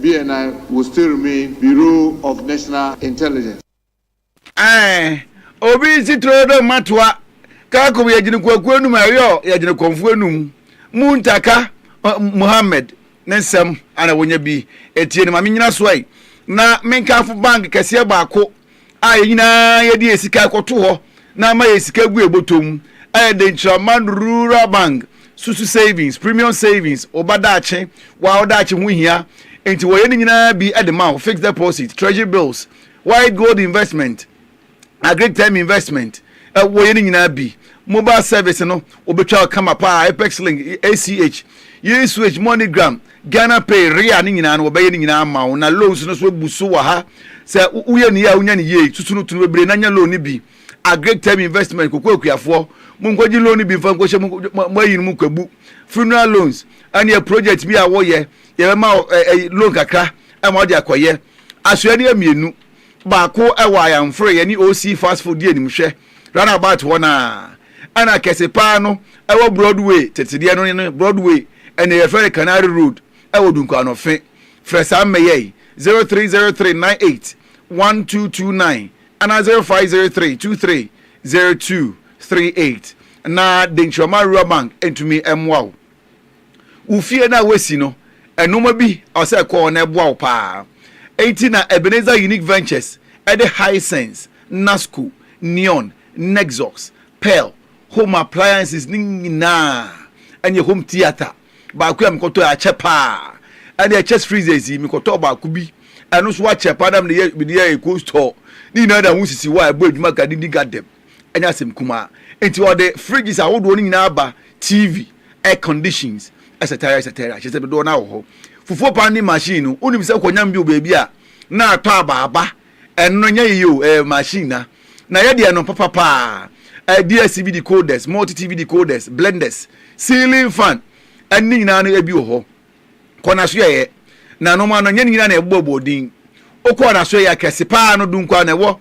L: BNI will still remain Bureau of National Intelligence. Ae,
A: obi nsi turo dɛ mmatoa Kharkov yɛ gyinakuakuo anum a ɛyɔ yɛ gyinakɔnfoɔ anum Muntaka Muhammad ne nsɛm a na wɔnya bi ɛtie no ma menyina so ai na menkamfo bank kɛseɛ baako a yɛn nyinaa yɛde yɛn sika rekɔto hɔ na ama yɛn sika agu yɛn bɔtɔ mu ayɛ den kyerɛ Amman Rural Bank Susu Savings, Premium Savings, wo ba daakye, wo a wo daakye ho hia nti wɔyɛ ne nyinaa bi de ma wo, Fixed Deposit, Treasury Bills, White Gold Investment, Agric Term Investment, eh, wɔyɛ ne nyinaa bi. Mobile service no, wɔbɛtwa kama paa, Apex Link, ACH, USH, MoneyGram, Ghana pay, rea ne nyinaa no wɔbɛyɛ ne nyinaa ama wo na loans no so abu so wɔ ha. Sɛ woyɛ ne yie a wonya ne yie, susu no to no bebree na nya loan no bi. Agric term investment, Koko akuafoɔ, monkɔgye loan no bi mfa nkɔhyɛ mo mo ayi no mu kwabu. Funeral loans, ɛneɛ project bi a woyɛ, yɛbɛma wo ɛ ɛ loan kakra ma wode akɔyɛ. Asoɛdeɛ mmienu. Baako wɔ Ayanfre, yɛne OC Fast Food di animhwɛ, Runabout hɔ no ara. Ɛna kɛse paa no wɔ Broadway, tete deɛ no ne Broadway, ɛnɛ yɛfrɛ no Canary Road, wɔ Dunkwano fe. Frɛ saa mmɛyɛ yi, 0303981229 anaa 0503230238. Na Denkyirɔma Rural Bank ntumi mmoa wo. wo fie no a woasi no, nnoɔma bi a ɔsɛ ɛkɔ hɔ na ɛboa wo paa. Enti na Ebenezer Unique Ventures de Hisense, Nasco, Neon, Nexus, Pearl, Home Appliances no nyinaa ɛne Home Theatre baako a mekɔtɔɛ akyɛ paa. Ɛne ɛkyɛs freezers yi mekɔtɔɔ baako bi ɛno nso akyɛ paa na mede yɛ mede yɛ ɛkɔ store ne nyinaa na ho sisi hɔ a ɛbɔ adwuma ka didi gadem. ɛnyɛ asɛm kumaa. Enti ɔde fridges ahodoɔ no nyinaa ba, TV, air conditions, ɛsɛtɛra ɛsɛtɛra, kyerɛ sɛ dodoɔ no ara wɔ hɔ. Fufuo pounding machine no, wonim sɛ wokɔnyam bi wɔ baabi a, na atɔ aba aba, ɛno no ɛnyɛ yeye o, ɛyɛ machine na na ɛyɛ deɛ no papa paa. Ɛɛ DSTV decoders, multi TV decoders, blenders, ceiling fan, ɛne nyinaa no ebi wɔ hɔ. kɔ n'asoɛeɛ, na nom ano nyɛ ne nyinaa na yɛbobɔ bɔɔ din. Wokɔɔ n'asoɛeɛ a, kɛse pa ara no, du nko ara na ɛwɔ.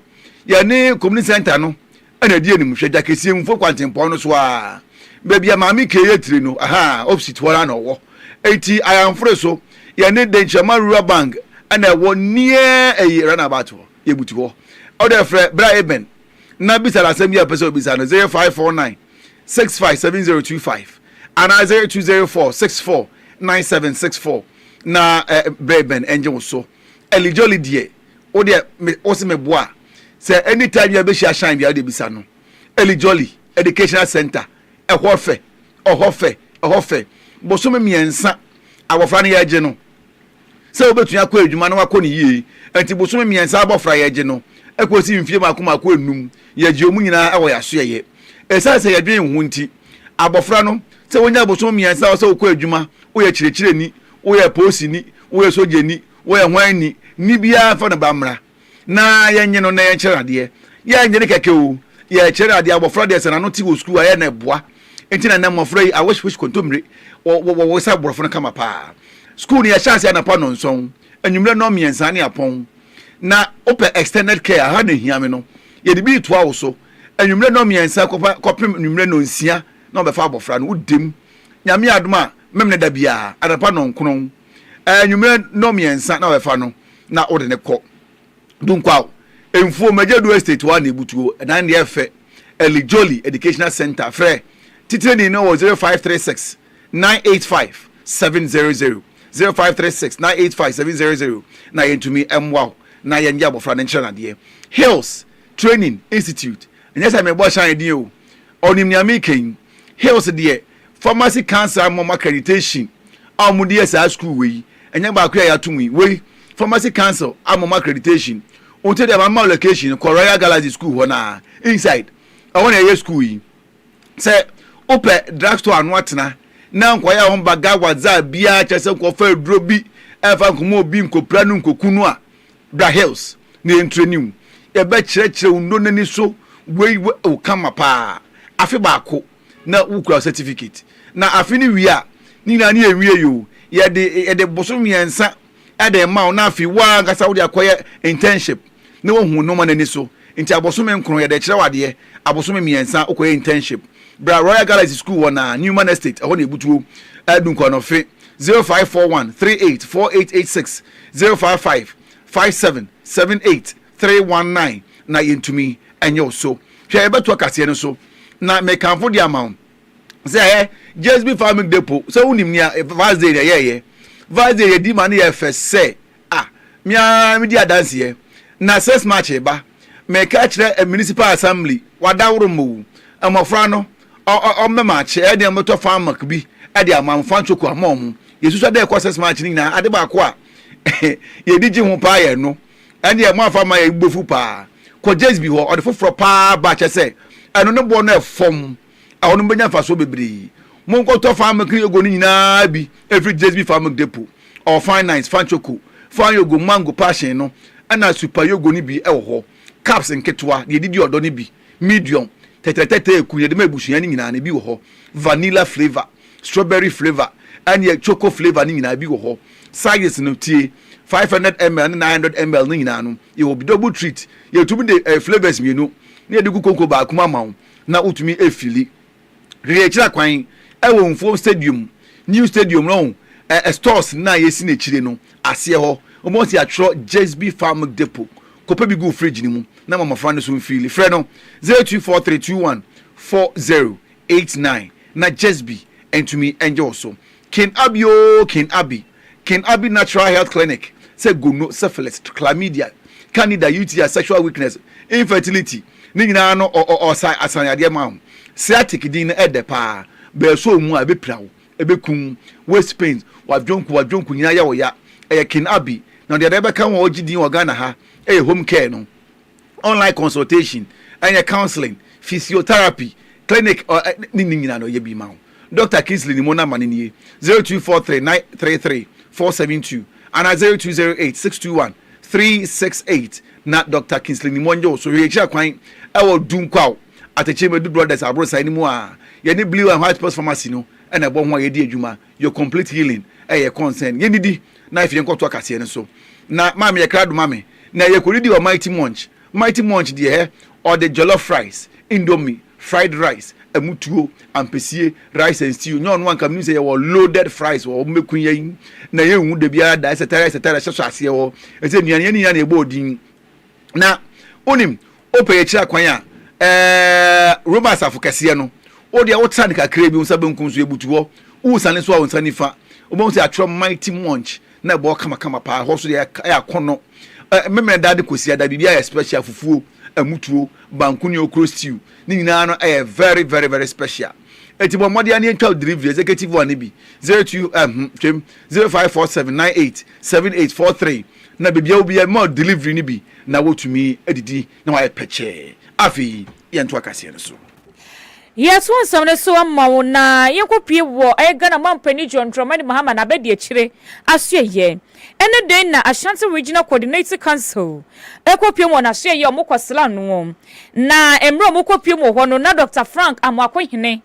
A: Yɛne Community Centre no na ɛdi anim, hwɛ Dwakeseɛ Mfuo kwantempɔn no so ara, baabi a Maame Kay yɛ tire no, aha, opposite hɔ ara na ɔwɔ. Enti Ayamfre so, yɛne Denkyirama Rural Bank na ɛwɔ near ɛyi, Runabout hɔ, yɛbutu hɔ. Wode frɛ Bra Eben na bisa no asɛm bi a wopɛ sɛ wobisa no, 0549. six five seven zero two five anaa zero two zero four six four nine seven six four na eh, bere bɛn ɛngye wo so ɛlijoli deɛ wo deɛ wo se meboa sɛ anytime yɛ bɛhyia shine bia wode bisa no ɛlijoli educational center ɛhɔ fɛ ɛhɔ fɛ ɛhɔ fɛ bosome mmiɛnsa abɔfra no yɛgye no sɛ wobetumi akɔ adwuma na wɔakɔ no yiye. Enti bosome mmiɛnsa abofra a yɛgye no kosi mfe mako mako anum, yɛgye wɔn nyinaa wɔ yɛn asoɛyɛ. Esiane sɛ yɛdwen ho nti, abofra no, sɛ wonya bosome mmiɛnsa a ɛwɔ sɛ wokɔ adwuma, woyɛ kyerɛkyerɛni, woyɛ polisini, woyɛ sogyani, woyɛ hwan ni, nne biara mfa no ba mmra. na yɛnye no na yɛnkyerɛ no adeɛ yɛnye no kɛkɛ o yɛkyerɛ no adeɛ abɔfra deɛ sɛ n'ano te wɔ sukuu ayɛ na ɛboa nti na nnɛ mmɔfra yi awehwehwe kontommire wɔwɔ sɛ borɔfo no kama paa sukuu no yɛhyɛ ase anapa nnɔnsɔn anwummerɛ nnɔn mmiɛnsa ne apɔn na wopɛ extended care aha na ɛhia me no yɛde bi retoa wo so anwummerɛ nnɔn mmiɛnsa kɔpem anwummerɛ nnɔnsia na wɔbɛfa abɔfra no wodim nyame adom a memene da biara anapa nnɔnkron anwummerɛ nnɔn mmiɛnsa na wɔbɛfa no na wode no kɔ Dunkwaw mfuo Magyadu Estate hɔ a na ebutuo. Ɛdan deɛ ɛyɛ fɛ Elijoli Educational Centre Frɛ titirani no wɔ 0536 985 700, 0536 985 700 na yɛntumi mmoa wo na yɛngye abɔfra no nkyerɛ no adeɛ Hills Training Institute Ɛnyɛ sɛ mebɔ Shine din o, ɔnim nea mereka yi. Hills deɛ, Pharmacy Council ama wɔn accreditation a wɔde yɛ saa sukuu wei. Ɛnyɛ baako yi a yɛato mu yi. Wei, Pharmacy Council ama wɔn accreditation. Nti deɛ, mama wo location no, kɔ Royal Galaxy Sukuu hɔ no ara, inside. Ɛhɔ na yɛyɛ sukuu yi. Sɛ wopɛ drug store ano atena na nkwadaa a wɔba Gawa Zaa biara kyerɛ sɛ nkɔfa aduro bi mfa nkɔma obi, nkɔpira no, nkɔku no a, Bra Hills na yɛntrɛni wo. Yɛbɛkyerɛkyerɛ wo nnɔ no ani so. Wei wɔ wo kama paa. Afe baako na wokura wo certificate. Na afe no wie a, ne nyinaa ne yɛnwiei o. Yɛde yɛde bosome mmiɛnsa de rema wo na afei wo ara ankasa wode akɔyɛ internship na woahu wo nnoɔma no ani so. Nti abosome nkron yɛde kyerɛw adeɛ, abosome mmiɛnsa wokɔyɛ internship. Bra Royal Galaxy School wɔ Naa, Newman Estate, ɛhɔ na ɛbutuo. Dunkwaano fe, 0541 38 4886, 055 57 78 319 na yɛntumi nyɛ wo so. Hwɛ yɛbɛto akaseɛ no so na mekamfo de ama wo sɛ ɛ JSB Farming Depot sɛ wonim nea Vaz Day na ɛyɛɛyɛ. Vaz Day yɛdi ma no yɛ fɛ sɛ A, me ara medi adanseɛ. Na six March reba, meka kyerɛ municipal assembly, wadaworo mmowu, mmɔfra no, ɔ, ɔ, ɔmmɛ maakye, ɛyɛ deɛ mobɛtɔ farmwork bi de ama mo, fan cocoa ma wɔn. Yɛsusua deɛ ɛkɔ six March no nyinaa, ade baako a yɛdi gye ho paa yɛ ɛno. Ɛndeɛ moamfa amma yɛ, yɛbɛbɔ fuu paa. Kɔ Jesby hɔ, ɔde foforɔ paa ba kyɛ sɛ ɛno ne boɔ no ɛfɔm. Ɛhɔ no mobɛnya mfasoɔ bebree. Monkɔtɔ Fine Milk ne Yogo no nyinaa bi mfiri JSB Fine Milk Depot. Ɔwɔ Fine Nice, Fine Choco, Fine Yogo, Mango, Passion no, ɛna Super Yogo no bi wɔ hɔ. Cups nketewa, deɛ ɛdidi ɔdɔ no bi, medium, tɛtrɛtɛtɛ ɛku no, yɛde ma abusua no nyinaa no ebi wɔ hɔ. Vanilla flavour, strawberry flavour, ɛne choco flavour no nyinaa ebi wɔ hɔ. Sizes no, tie, 500ml ne 900ml no nyinaa no, yɛwɔ bi. Double Treat, yɛtumi de flavours mmienu na yɛde gu konko baako mu ama wo. na wotumi fili hwehwɛ akyira kwan wɔ Mfuom Stadium, New Stadium no, ɛ, stores no a yɛasi no akyire no aseɛ hɔ. Wobɛhu sɛ yɛatwerɛ Jesby Farm Milk Depot. Kɔpɛ bi gu wo fridge no mu na ma mmɔfra no nso mfili. Frɛ no 0243214089 na Jesby ntumi ngye wo so. Kin Abi oo Kin Abi, Kin Abi Natural Health Clinic sɛ gono, syphilis, chlamydia, candida, UTI, sexual weakness, infertility ne nyinaa no ɔ ɔ ɔsa asan yadeɛ ma wo. Sciatic din no ɛdɛ paa, bɛɛsɔ wo mu a ɛbɛpira wo, ɛbɛku wo. Waist pains, w'adwonku, w'adwonku nyinaa yɛ wo ya, ɛyɛ Kin Abi na ɔde adeɛ bɛka ho a ɔgye din wɔ Ghana ha yɛ home care no. online consultation, ɛnyɛ counseling, physiotherapy, clinic ɔ ɛ ne ne nyinaa no yɛ bi ma wo. Dɔkta Kingsley ne mo namba no nie, 0243 933 472 anaa 0208 621 368 na Dɔkta Kingsley ne mo nyɛ wo so hwɛ. Yɛkyira kwan ɛwɔ Dunkwaw, Atɛkyɛ Madu Brothers aborosan no mu a yɛne Blue and White Pills Pharmacy no na ɛbɔ ho a yɛdi adwuma. Your complete healing yɛ concern. Yɛn didi na afei yɛn kɔ toa kaseɛ no so. Na maame yɛ krado ma me. Na yɛ kɔ didi wɔ Mighty Munch. Mighty Munch deɛ hɛ ɔde jollof rice, indomie, fried rice, ɛmu tuo, ampesie, rice and stew. Nyɛ ɔno a nka menim sɛ yɛwɔ loaded fries wɔ hɔ. Mobɛku yɛn na yɛnwu da biara da etc etc hyɛ so aseɛ hɔ. Ɛsɛ nnuane yɛn ne nyinaa na yɛbɔɔ din. Na wonim, wopɛ yɛ akyiri akwan a, ɛɛ, Roma asafo kɛseɛ no, wo deɛ wotra no kakra bi, wo nsa benkum so, yɛbutu hɔ. Wosane so a, wo nsa nifa, wobɛhu sɛ yɛatwerɛ Mighty Munch, na ɛbɔ hɔ kamakama paa. Ɛhɔ nso deɛ ɛyɛ akɔnnɔ. Ɛ, Memeneda de Kwasiada, biribiara yɛ special, fufuo, ɛmutuo, banku ne okro stew, ne nyinaa no ɛyɛ very, very, very special. Enti bɔ mmɔden ara na yɛntwa wo delivery, executive one no bi, 02, ɛhum, twam, 0547 98 78 43. Na baabiara obi a ma delivery no bi na wotumi adidi na wɔayɛ pɛkyɛɛ. Afei yɛntoa kaseɛ no so. Yɛto
E: asɛm no so ma wo na yɛnkɔpue wɔ ɛyɛ Ghana Manpanin John Dramani Mahama n'abadiakyire asoɛyɛ. Ɛne dɛn na Ashanti Regional Coordinating Council ɛkɔpue mu wɔ n'asoɛyɛ a wɔkɔ sra noɔ. Na mmerɛ a wɔkɔpue mu wɔ hɔ no na Dɔkta Frank Amoako Hene,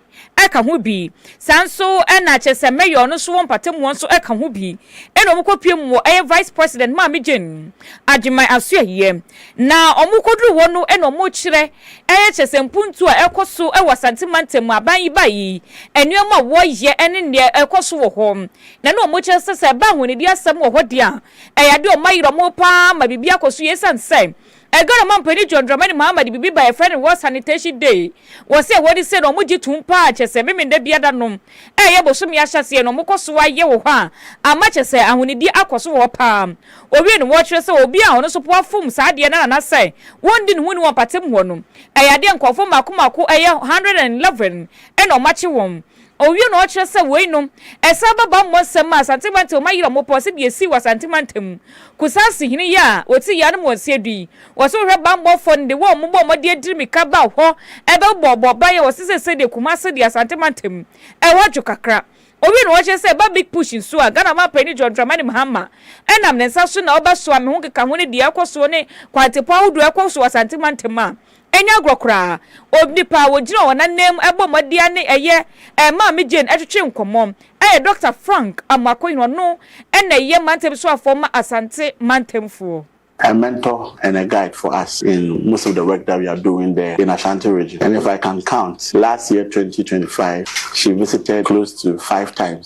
E: ka ho bi. Saa nso na Kyesem Mayor no so wɔ mpatamuwa nso ka ho bi. Ɛna wɔn kɔ pue mu wɔ ɛyɛ Vice President Maame Jane Agyeman Asoɛeɛ. Na wɔn kɔ duru hɔ no na wɔn kyerɛ ɛyɛ Kyesem mpuntuo a ɛkɔ so wɔ Asante Mantam mu, aban yi ba yi, nneɛma a wɔ yɛ ɛne neɛ ɛkɔ so wɔ hɔ. Na na wɔn kyerɛ sɛ sɛ ɛba ahonidi asɛm wɔ hɔ deɛ a, ɛyɛ adeɛ a wɔn ayera wɔn paa ma biribi akɔ so yie ɛsiane sɛ Edgar a Mampa ne John Dramani Mahama de biribi bae a wɔfrɛ no World Sanitation Day. Wɔse ɛwɔ adi sɛ na wɔgye tom pa ara kyerɛ sɛ Memeneda biada no ɛyɛ bosome ahyɛaseɛ na wɔkɔ so ara yɛ wɔ hɔ a ama kyerɛ sɛ ahonidie akɔ so wɔ hɔ pa ara. Wɔwie no wɔkyerɛ sɛ obi a ɔno nso po afom saa adeɛ no ara anasɛ wɔndi ne ho nni wɔ mpatamu hɔ no ɛyɛ adeɛ a nkurɔfoɔ mmaako mmaako ɛyɛ 111 na wɔakye wɔn Ɔwie na ɔkyerɛ sɛ woi nom ɛsan ba bammɔ nsɛm ma Asante mantam ɔma yera ɔmo pɔ sɛdeɛ ɛsii wɔ Asante mantam mu Kusase hene yi a ɔti yea no mu wɔ Nseadu yi wɔ sɛ wohwɛ bammɔ fɔ no de wɔ ɔmo bɔ ɔmo de adiri mika ba hɔ ɛbɛ bɔ bɔ baeɛ wɔ sɛ sesei deɛ Kumase deɛ Asante mantam mu ɛhɔ dwo kakra Ɔwie na ɔkyerɛ sɛ ɛba big push nso a Ghana ɔman panin John Dramani Mahama ɛnam ne nsa so na ɔbɛ soa me ho nkekaho ne deɛ ɛkɔ soɔ ne kwantepɔn ahodoɔ ɛkɔ so wɔ Asante mantam a Ɛnyɛ agorɔ koraa, onipa a ɔgyina wɔn ananmu bɔ mmɔdeɛ ne ɛyɛ ɛmaa me Jane twetwee nkɔmmɔ. Ɛyɛ Dɔkta Frank Amoakohene, ɔno na ɛyɛ mantam soafoɔ ma Asante mantamfoɔ. A mentor
M: and a guide for us in most of the work that we are doing there in Ashanti region and if I can count last year 2025 she visited close to five times.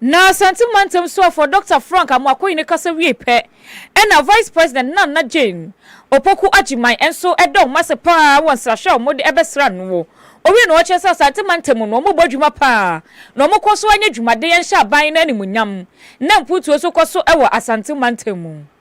M: Na
E: Asante Mantam Soafoɔ Dɔkta Frank Amoako Yene kasa wiei pɛ na Vice President Nana Jane Opoku Agyeman nso da wɔn ase pa ara wɔ nsrahwɛ a wɔde bɛsra no no. Owiee no ɔkyerɛ sɛ Asante Mantam no wɔbɔ adwuma pa ara na wɔkɔ so anya dwumaden hyɛ aban no animuonyam na mpuntuo nso kɔ so wɔ Asante Mantam mu.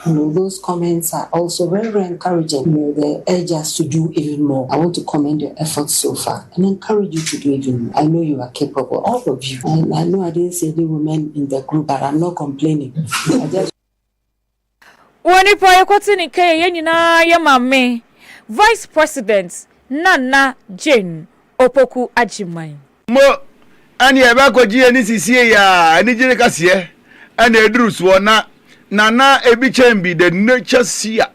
N: Hello, those comments are also very very encouraging, may the urge us to do even more, I want to commend your efforts so far and encourage you to do even more, I know you are capable, all of you, and I know I didn't see any women in the group but I'm not complaining, I just Wɔ
E: nipa yɛkɔte ne kɛyɛ yɛn nyinaa yɛ maame Vice President Nana Jane Opoku Agyeman. Mpo
A: ɛne yɛn bɛkɔgye ani sisie yɛ a anigye no kɛseɛ na ɛduru soɔ na Nana ebi kyɛn bi the nature seer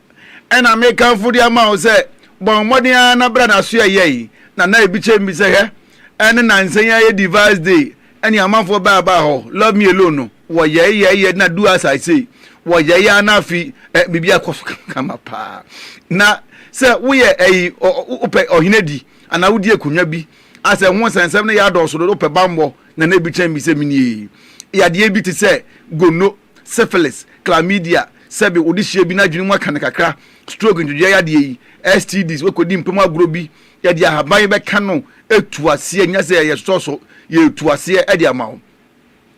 A: ɛna me kamfo de ama wo sɛ bɔ mmɔden ara na bra na soɛ yɛn Nana ebi kyɛn bi sɛ hwɛ ɛne nansa yi ayɛ device day ɛne amanfoɔ baa baa hɔ love me alone no wɔ yɛe yɛe yɛ na do as I say wɔ yɛe ara na afi ɛ biribi akɔ so kama paa na sɛ woyɛ ɛyi wopɛ ɔhene di anaa wodi akonnwa bi Asɛ ho nsɛnsɛm no yɛ adɔɔso dodo pɛ bammɔ na na ebi kyɛn bi sɛ minie. Yadeɛ bi te sɛ gonno, syphilis, chlamydia, sɛbe wode hyia bi n'adwene mu aka no kakra, stroke, ntwedweɛ yadeɛ yi, STDs, woakɔdi mpam agorɔ bi, yɛde ahaban yi bɛka no, ɛtu aseɛ, nyɛ sɛ yɛsosɔ so, yɛtu aseɛ de ama wo.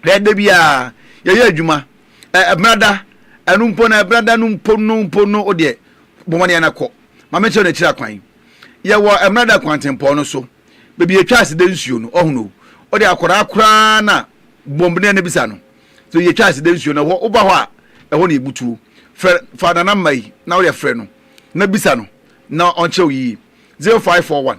A: Hwɛ, da bi a yɛyɛ adwuma, ɛ, ɛbena da, ɛno mpo no, ɛbena da no mpo no, mpo no, wo deɛ, bɔ mmɔden na kɔ. Ma menkyerɛ wo n'akyiri akwan. Yɛwɔ ɛbena da kwantempɔn no so, baabi yɛtwa ase da nsuo no, ɔho no. Wo deɛ, akwadaa koraa na bɔ mmɔden na bisa no. So yɛtwa ase da nsuo no, ɛhɔ, woba hɔ a, ɛhɔ na yɛbutuo. Frɛ, fa Nana Mma yi, na wo deɛ frɛ no, na bisa no, na ɔnkyerɛ wo yie. 0541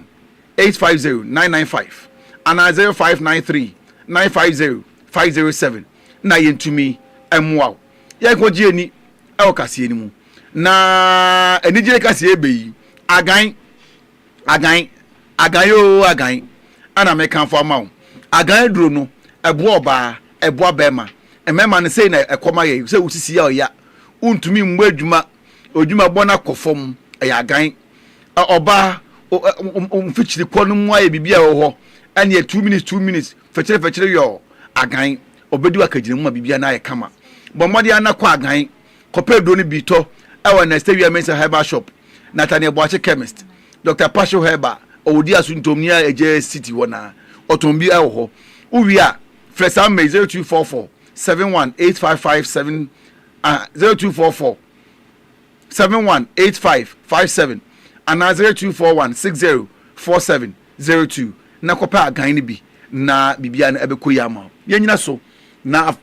A: eight five zero nine nine five anaa zero five nine three nine five zero five zero seven na yɛntumi mmoa wo. Yɛnkɔgye ani wɔ kaseɛ no mu. Na anigyeɛ kaseɛ ɛbɛ yi, agan, agan, agan yoo agan ɛna mekamfo ama wo. Agan aduro no, ɛboa ɔbaa, ɛboa bɛrima. Mmarima no sei na ɛkɔ ma yɛn, sɛ wosisi a ɔya, wontumi mmɔ adwuma, adwuma bɔ no akɔ fam, ɛyɛ agan. Ɔbaa, wo mfikyiri kɔ no mu ayɛ biribi a ɛwɔ hɔ ɛneɛ two minutes two minutes fɛkyere fɛkyere yɔɔ agan ɔbɛdi w'akagyina mu ma biribi no ayɛ kama. Bɔ mmɔden ara na kɔ agan kɔpɛ aduro no bi tɔ ɛwɔ Ernest Awia Mensah Herbal Shop, Nathaniel Boakye Chemist, Doctor Pacho Herbal ɔwɔ Odiasu Ntomni a ɛgya city hɔ na ɔtɔn bi ɛwɔ hɔ. Wo wie a frɛ saa mma yi, zero two four four seven one eight five five seven, zero two four four. seven one eight five five seven anaa zero two four one six zero four seven zero two na kɔpɛ agan no bi na biribiara no ɛbɛkɔ yie ama wo. Yɛnnyina so na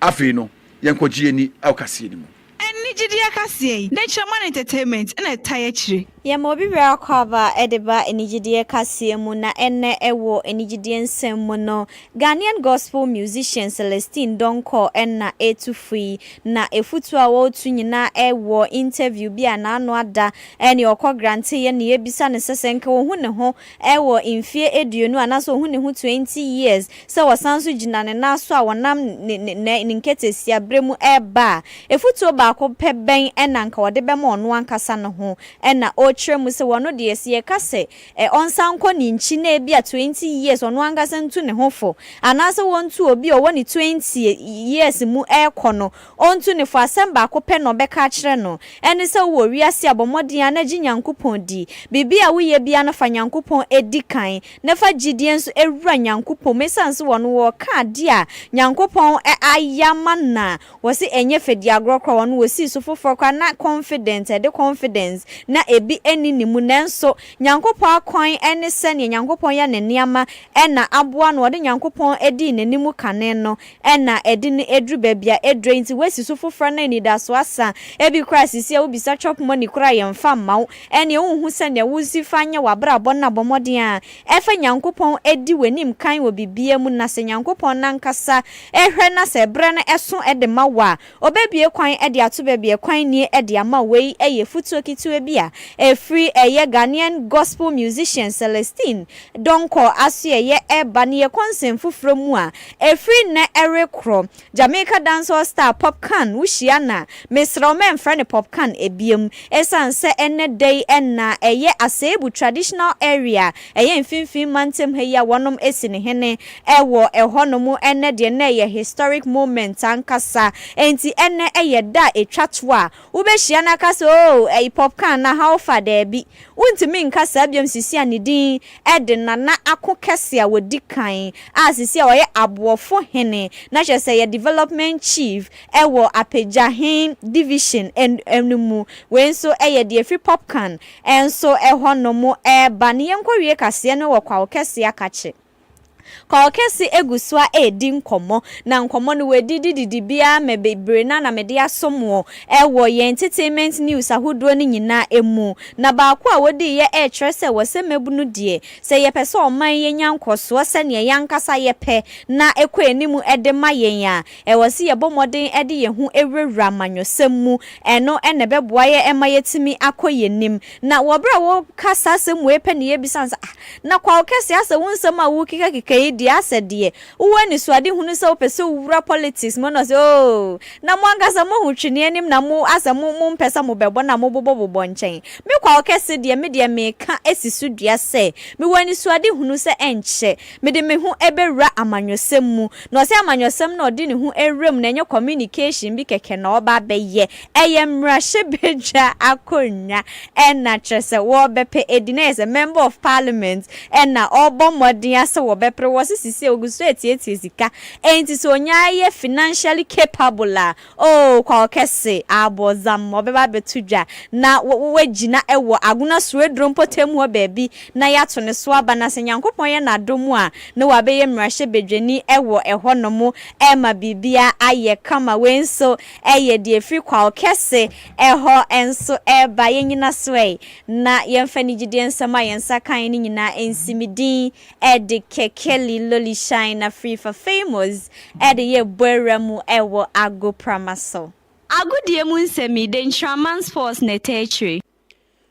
A: afei no yɛnkɔgye yɛn ani wɔ kaseɛ no mu. Ɛnne gyidie akaseɛ
O: yi, Natureman Entertainment na ɛtae akyire. Yɛma obi bere akwaaba
P: de ba anigyedeɛ kaseɛ mu na ɛnnɛ wɔ anigyedeɛ nsɛm mu no, Ghanaian Gospel Musician Celestine Donkor na ɛretu fo yi, na afutuo a ɔretu nyinaa wɔ interview bi a n'ano ada ne ɔkɔ Granteyɛ ne yɛbisa no sɛ sɛ nka ɔhu ne ho Ɛwɔ mfeɛ aduonu a na sɛ ɔhu ne ho 20 years sɛ ɔsan nso gyina ne nan so a ɔnam ne ne ne ne nketesia berɛ mu reba a, afutuo baako pɛ bɛn na anka ɔde bɛma ɔno ankasa ne ho na ɔrekyerɛ mu sɛ ɔno deɛ sɛ yɛka sɛ ɛ ɔnsan nkɔ ne nkyi na ebia 20 years ɔno ankasa ntu ne ho fo anaasɛ ɔntu obi a ɔwɔ ne 20 years mu rekɔ no Ontu ne fo, asɛm baako pɛ na ɔbɛka akyerɛ no, ɛne sɛ wowɔ wiase a bɔ mmɔden ara na gye Nyankopɔn di. Biribi a woyɛ biara no fa Nyankopɔn di kan, na fa gyidie nso wura Nyankopɔn mu. Ɛsiane sɛ wɔn wɔka adeɛ a Nyankopɔn ayɛ ama no a, wɔse ɛnyɛ fɛdiagorɔ koraa, wɔn wɔsii so foforɔ koraa na confident, ɛde confidence na ɛbi nni ne mu. Nanso Nyankopɔn akwan ne sɛdeɛ Nyankopɔn yɛ ne nneɛma na aboa no, wɔde Nyankopɔn dii n'anim kane no, Ɛna ɛde no aduru baabi a aduro nti wasi so foforɔ na anidasoɔ asa. Ebi koraa sisi a wobisa chop money koraa a yɛmfa mma wo. Ɛneɛ wonhu sɛ nea wosi fa nyɛ w'abrabɔ no abɔ mmɔden a ɛfa Nyankopɔn di w'anim kan wɔ biribiara mu na sɛ Nyankopɔn no ankasa hwɛ na sɛ ɛberɛ no ɛso de ma wo a Ɔbɛbue kwan de ato baabi a kwan nnie de ama wei yɛ futuo ketewa bi a ɛfiri ɛyɛ Ghanaian Gospel musician Celestine Donkor asoɛeɛ reba ne yɛ kɔnsɛn foforɔ mu a ɛfiri nnɛ rekorɔ Jamaica dancehall star Popcaan wohyia no a mesrɛ wo mɛmfrɛ no Popcaan biom ɛsiane sɛ ɛnnɛ da yi na ɛyɛ Aseebu traditional area Ɛyɛ mfimfini mantam ha yi a wɔnom asi no hene wɔ ɛhɔ nom ɛnnɛ deɛ na ɛyɛ historic moment ankasa enti ɛnnɛ ɛyɛ da a ɛtwa to a wobɛhyia no aka sɛ oo ɛy popka anaa how far daabi wontumi nka saa biom sisi a ne din ɛde nana ako kɛse a wɔdi kan a sisi a ɔyɛ aboɔfo hene na kyerɛ sɛ yɛ development chief ɛwɔ apagya he division no mu wei nso ɛyɛ deɛ ɛfiri popkan Ɛnso ɛhɔ no mo ɛɛba ne yɛnkɔ wie kaseɛ no wɔ kwawo kɛse akakye. Kwawo kɛse ɛgu soa ɛɛdi nkɔmɔ na nkɔmɔ no wɔ didi didi biaa mɛ bebree na na mede aso moɔ ɛwɔ yɛn entertainment news ahodoɔ no nyinaa ɛmu na baako a wɔdii yɛ ɛɛkyerɛ sɛ wɔ sɛ mabunu deɛ sɛ yɛpɛ sɛ ɔman yɛnya nkɔsoɔ sɛdeɛ yɛn ankasa yɛpɛ na ɛkɔ anim ɛde ma yɛn a Ɛwɔ sɛ yɛbɔ mmɔden de yɛn ho wurawura amanyɔsɛm mu. Ɛno na ɛbɛboa yɛn ma yɛatumi akɔ yɛn anim. Na wɔ berɛ a wɔreka saa asɛm wei pɛ na yɛbisa no sɛ, Ah, na Kwawokɛse, asɛ wo nsɛm a worekekakeka yi deɛ, asɛ deɛ wowɔ anisoadehunu sɛ wopɛ sɛ wowura politics mu? Ɛna ɔse, Oh, na mo ankasa mohu tweneɛ anim na mo, asɛ mo, mompɛ sɛ mobɛbɔ na mobobɔbobɔ nkyɛn. Me Kwawokɛse deɛ, me deɛ mereka si so dua sɛ, mewɔ anisoadehunu sɛ ɛnkyɛ, Mede me ho bɛwura amanyɔsɛm mu. Na ɔsɛ amanyɔsɛm na ɔde ne ho wura mu na ɛnyɛ communication bi kɛkɛ na ɔreba abɛyɛ. Ɛyɛ mmarahyɛbadwa akonnwa na kyerɛ sɛ wɔrebɛpɛ adi na ɛyɛ sɛ member of parliament na ɔrebɔ mmɔden ara sɛ wɔbɛpere. Wɔse sisei ɔgu so retietie sika. Enti sɛ ɔnya yɛ financially capable a, Oh, Kwawo kɛse, aabɔ zam, ɔbɛba abɛto dwa, na wa, wa, wagyina wɔ Agona Sueduro mpɔtam hɔ baabi, na yɛato ne so aba, na sɛ Nyankopɔn yɛ N'adom a, na wabɛyɛ mmarahyɛbadwani wɔ ɛhɔnom, ɛrema biribiara ayɛ kama. Wei nso yɛ deɛ ɛfiri Kwawo kɛse hɔ nso reba. Yɛnnyina so ɛ, na yɛmfa anigyedeɛ nsɛm a yɛn nsa kaeɛ no nyinaa nsi Me din de Kekeli, Lolishan na Frifa Famous de yɛ bɔawura mu wɔ agoprama so. Agodie mu
Q: nsɛm yi, dɛn Nkyiraman Sports na ɛtaa kyire?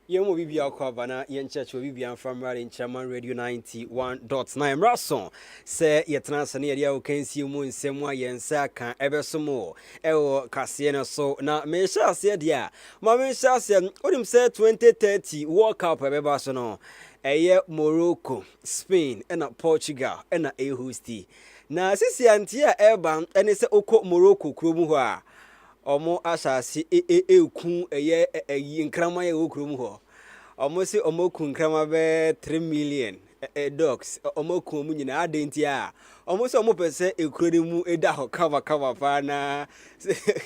Q: Yɛn mu
R: obibiara kɔ aba na yɛn kyerɛkyerɛ obibiara mfa mmra de Nkyiraman Radio 91.9 mmra so sɛ yɛtena ase na yɛde ahokansie mu nsɛm a yɛn nsa aka ɛbɛso mo ɛwɔ kaseɛ no so na mehyɛ aseɛ deɛ a ma mehyɛ aseɛ wonim sɛ 2030 World Cup ɛbɛba so no Ɛyɛ Morocco, Spain na Portugal na ɛrehosti. Na sisi a nteɛ a ɛreba ne sɛ wokɔ Morocco kuro mu hɔ a, wɔn asase ɛreku ɛyɛ ɛyi nkraman a ɛwɔ kuro mu hɔ. Wɔn se wɔn aku nkraman bɛyɛ three million dogs. Wɔn aku wɔn nyinaa adan nti a wɔn sɛ wɔn pɛ sɛ ekuro no mu ɛda hɔ kama kama paa na sɛdeɛ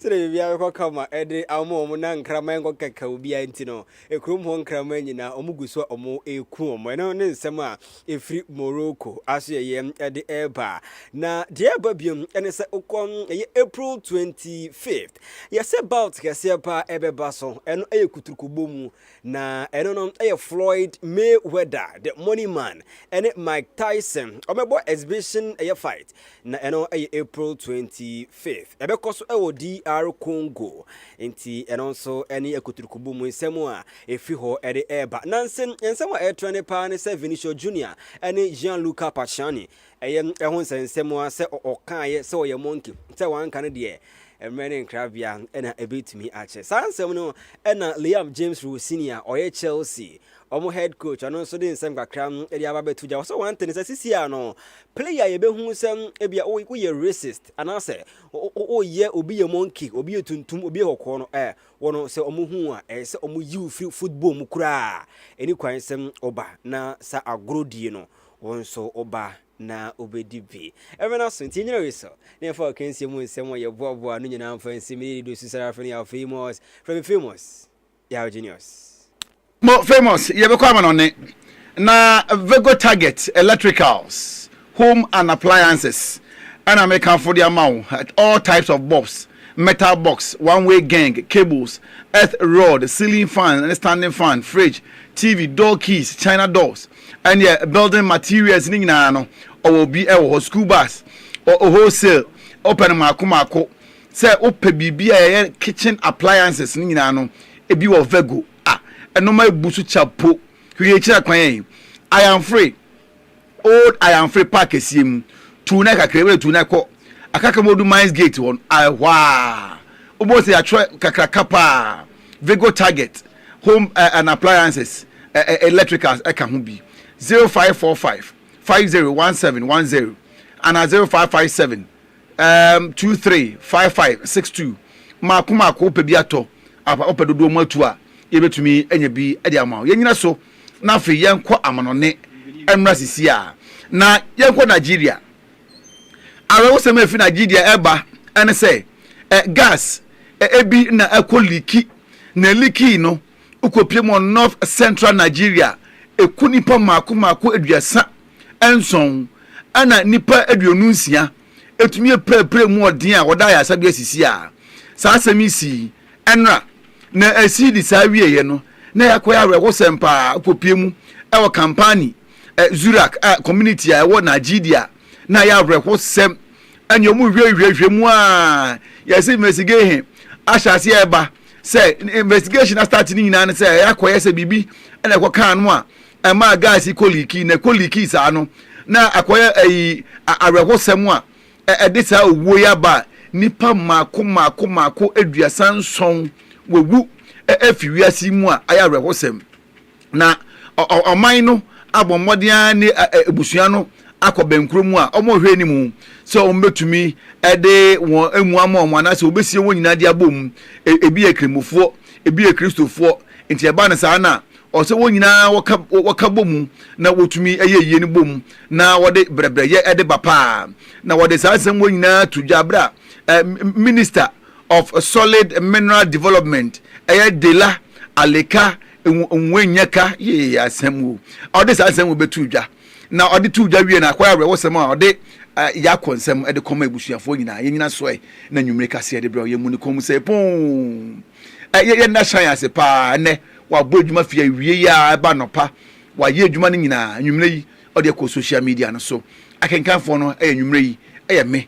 R: biribiara bɛkɔ kama ɛde ama wɔn na nkraman nkɔ kɛkɛ obiara nti no Kurom hɔ nkraman nyinaa wɔn gu so a wɔreku wɔn. Ɛno ne nsɛm a ɛfiri Morocco asoɛyɛ de ɛreba. Na deɛ ɛreba biom ne sɛ wokɔ ɛyɛ April 25th. Yɛsɛ bout kɛseɛ paa ɛbɛba so. Ɛno ɛyɛ kuturukubɔ mu. Na ɛno no ɛyɛ Floyd Mayweather, the money man, ɛne Mike Tyson. Wɔbɛbɔ exhibition ɛyɛ fight. Na ɛno yɛ April 25th. Ɛbɛkɔ so wɔ DR Congo. Nti ɛno nso ne akuturukubu mu nsɛm a efi hɔ de reba. Nansa nsɛm a ɛretrɛ ne paa ne sɛ Vinicius Junior ne Gianluca Paciani. Ɛyɛ ɛho nsɛnsɛm a sɛ ɔkaeɛ sɛ ɔyɛ monkey, sɛ wanka no deɛ mmerɛ ne nkrabea na ɛbɛtumi akyɛ. Saa nsɛm no na Liam James Rowe Senior ɔyɛ Chelsea Wɔn head coach ɔno nso de nsɛm kakra de aba bɛto gya. Wɔsɛ wɔn ntene sɛ sisi a no player a yɛbɛhu sɛ ebia woyɛ racist anaasɛ woyɛ obi yɛ monkey, obi yɛ tuntum, obi yɛ kɔkɔɔ no ɛ wɔn sɛ wɔn hu a ɛyɛ sɛ wɔn yi wo firi football mu koraa. Ɛni kwan sɛ ɔba na sa agorɔ die no wɔn nso ɔba na ɔbɛdi bi. Ɛmɛ no aso nti nyina wei so na yɛfa ɔkansie mu nsɛm a yɛboaboa no nyinaa mfa nsi me yɛ dido susara afei no yɛ afei mos frɛ me famous. Yaw Genius. Mo
A: famous yɛbɛkɔ amanɔne na Vego Target electricals home and appliances ɛna mekamfo de ama wo all types of bulbs metal box one way geng cables earth rod ceiling fan ne standing fan fridge TV door keys china doors ɛneɛ building materials ne nyinaa no ɔwɔ bi ɛwɔ hɔ school bus ɔ wholesale wopɛ no maako maako Sɛ wopɛ biribi a ɛyɛ kitchen appliances no nyinaa no, ebi wɔ Vego. Ah, ɛnoɔma ɛbu so kya po. Hwehwɛ akyira kwan ɛ. Ayanfre, Old Ayanfre park kɛseɛ mu. Tuu nan kakra, wode tuu nan kɔ Akaka mu wodu Mines Gate hɔ no, ɛhɔ a wobɛhu sɛ yɛatwerɛ kakraka pa ara, Vego Target Home eh, and Appliances, eh, eh, Electricals ɛka ho bi. 0545 501710 anaa 0557 Erm two three five five six two Mmaako mmaako wopɛ bi atɔ apa wopɛ dodoɔ mu atu a yɛbɛtumi anya bi de ama wo. Yɛnyina so na afei yɛnkɔ amanɔne mmra sisi a na yɛnkɔ Nigeria. Awerɛhosɛm a ɛfiri Nigeria ɛreba ɛne sɛ ɛ gas ɛbi na ɛkɔ liiki na ɛliikii no Wokopiem wɔ North Central Nigeria a, ɛku nnipa mmaako mmaako aduasa nson, ɛnna nnipa aduonu nsia tumi pirapiraa mu ɔden a wɔde ayaresa bi asisi a. Saa asɛm yi sii nnora, na Esidi saa wieeɛ no, na ɛyɛ akɔyɛ awerɛhosɛm paa. Wokopie mu wɔ Kampani, Zurak a community a ɛwɔ Nigeria, na ɛyɛ awerɛhosɛm. Ɛnneɛ wɔhwehwɛhwehwɛ mu a, yɛse investigation ahyɛ aseɛ reba. sɛ investigation na start ne nyinaa no sɛ ɛyɛ akɔyɛ sɛ biribi ɛna ɛkɔ kaa no a ɛmaa gas yi kɔ liiki na ɛkɔ liiki saa no na akɔyɛ ɛyi awerɛhosɛm a ɛde saa owuo yi aba a nipa mmaako mmaako mmaako aduasa nson wɔwu ɛfi wiase mu a ayɛ awerɛhosɛm. Na ɔman no abɔ mmɔden ara ne abusua no akɔ bɛnkoro mu a wɔhwɛ anim sɛ wɔbɛtumi de wɔn amu ama wɔn anaasɛ wɔbɛsie wɔn nyinaa de abɔ mu. E, ebi yɛ Krammofoɔ, ebi yɛ Kristofoɔ. Nti ɛba no saa na ɔsɛ wɔn nyinaa wɔka wɔka bɔ mu na wɔtumi yɛ yie no bɔ mu na wɔde brɛbrɛyɛ de ba paa. Na wɔde saa nsɛm wɔ nyinaa to dwa berɛ a minista of Solid Mineral Development, ɛyɛ Dela Aleka Nwennyeka yee asɛm o, ɔde saa nsɛm wei bɛtoo dwa, na ɔde too dwa wiee no, akɔyɛ awerɛhosɛm a ɔde Yako nsɛm de kɔma abusuafoɔ nyinaa, yɛn nyinaa sɔe na anwummere kaseɛ de brɛw, yɛmmu no kɔn mu sɛ pon! Yɛ yɛn nna hyɛn ase pa ara ɛnnɛ, wabɔ adwuma firi awieeɛ ara ɛba anɔpa, wayɛ adwuma no nyinaa, anwummere yi ɔde akɔ social media no so, akenkanfoɔ no yɛ anwummere yi yɛ me,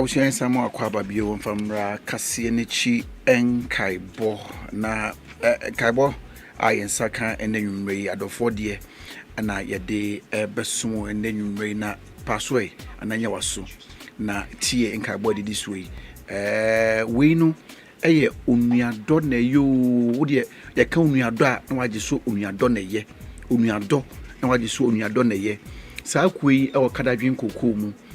A: abusua nsa mu akɔ aba bio wɔmfa mmra kaseɛ n'akyi nkaebɔ na nkaebɔ a yɛn nsa ka ɛnɛ nwummerɛ yi adɔfoɔ deɛ na yɛde bɛso ɛnɛ nwummerɛ yi na paasoɛ ananyɛ waso na tie nkaebɔ a ɛdidi soɔ yi wei no Ɛyɛ onuadɔ na ɛyɛ oo, wo deɛ yɛka onuadɔ a na wagye so onuadɔ na ɛyɛ, onuadɔ na wagye so onuadɔ na ɛyɛ. Saa kuo yi wɔ Kadadwen Kokoo mu,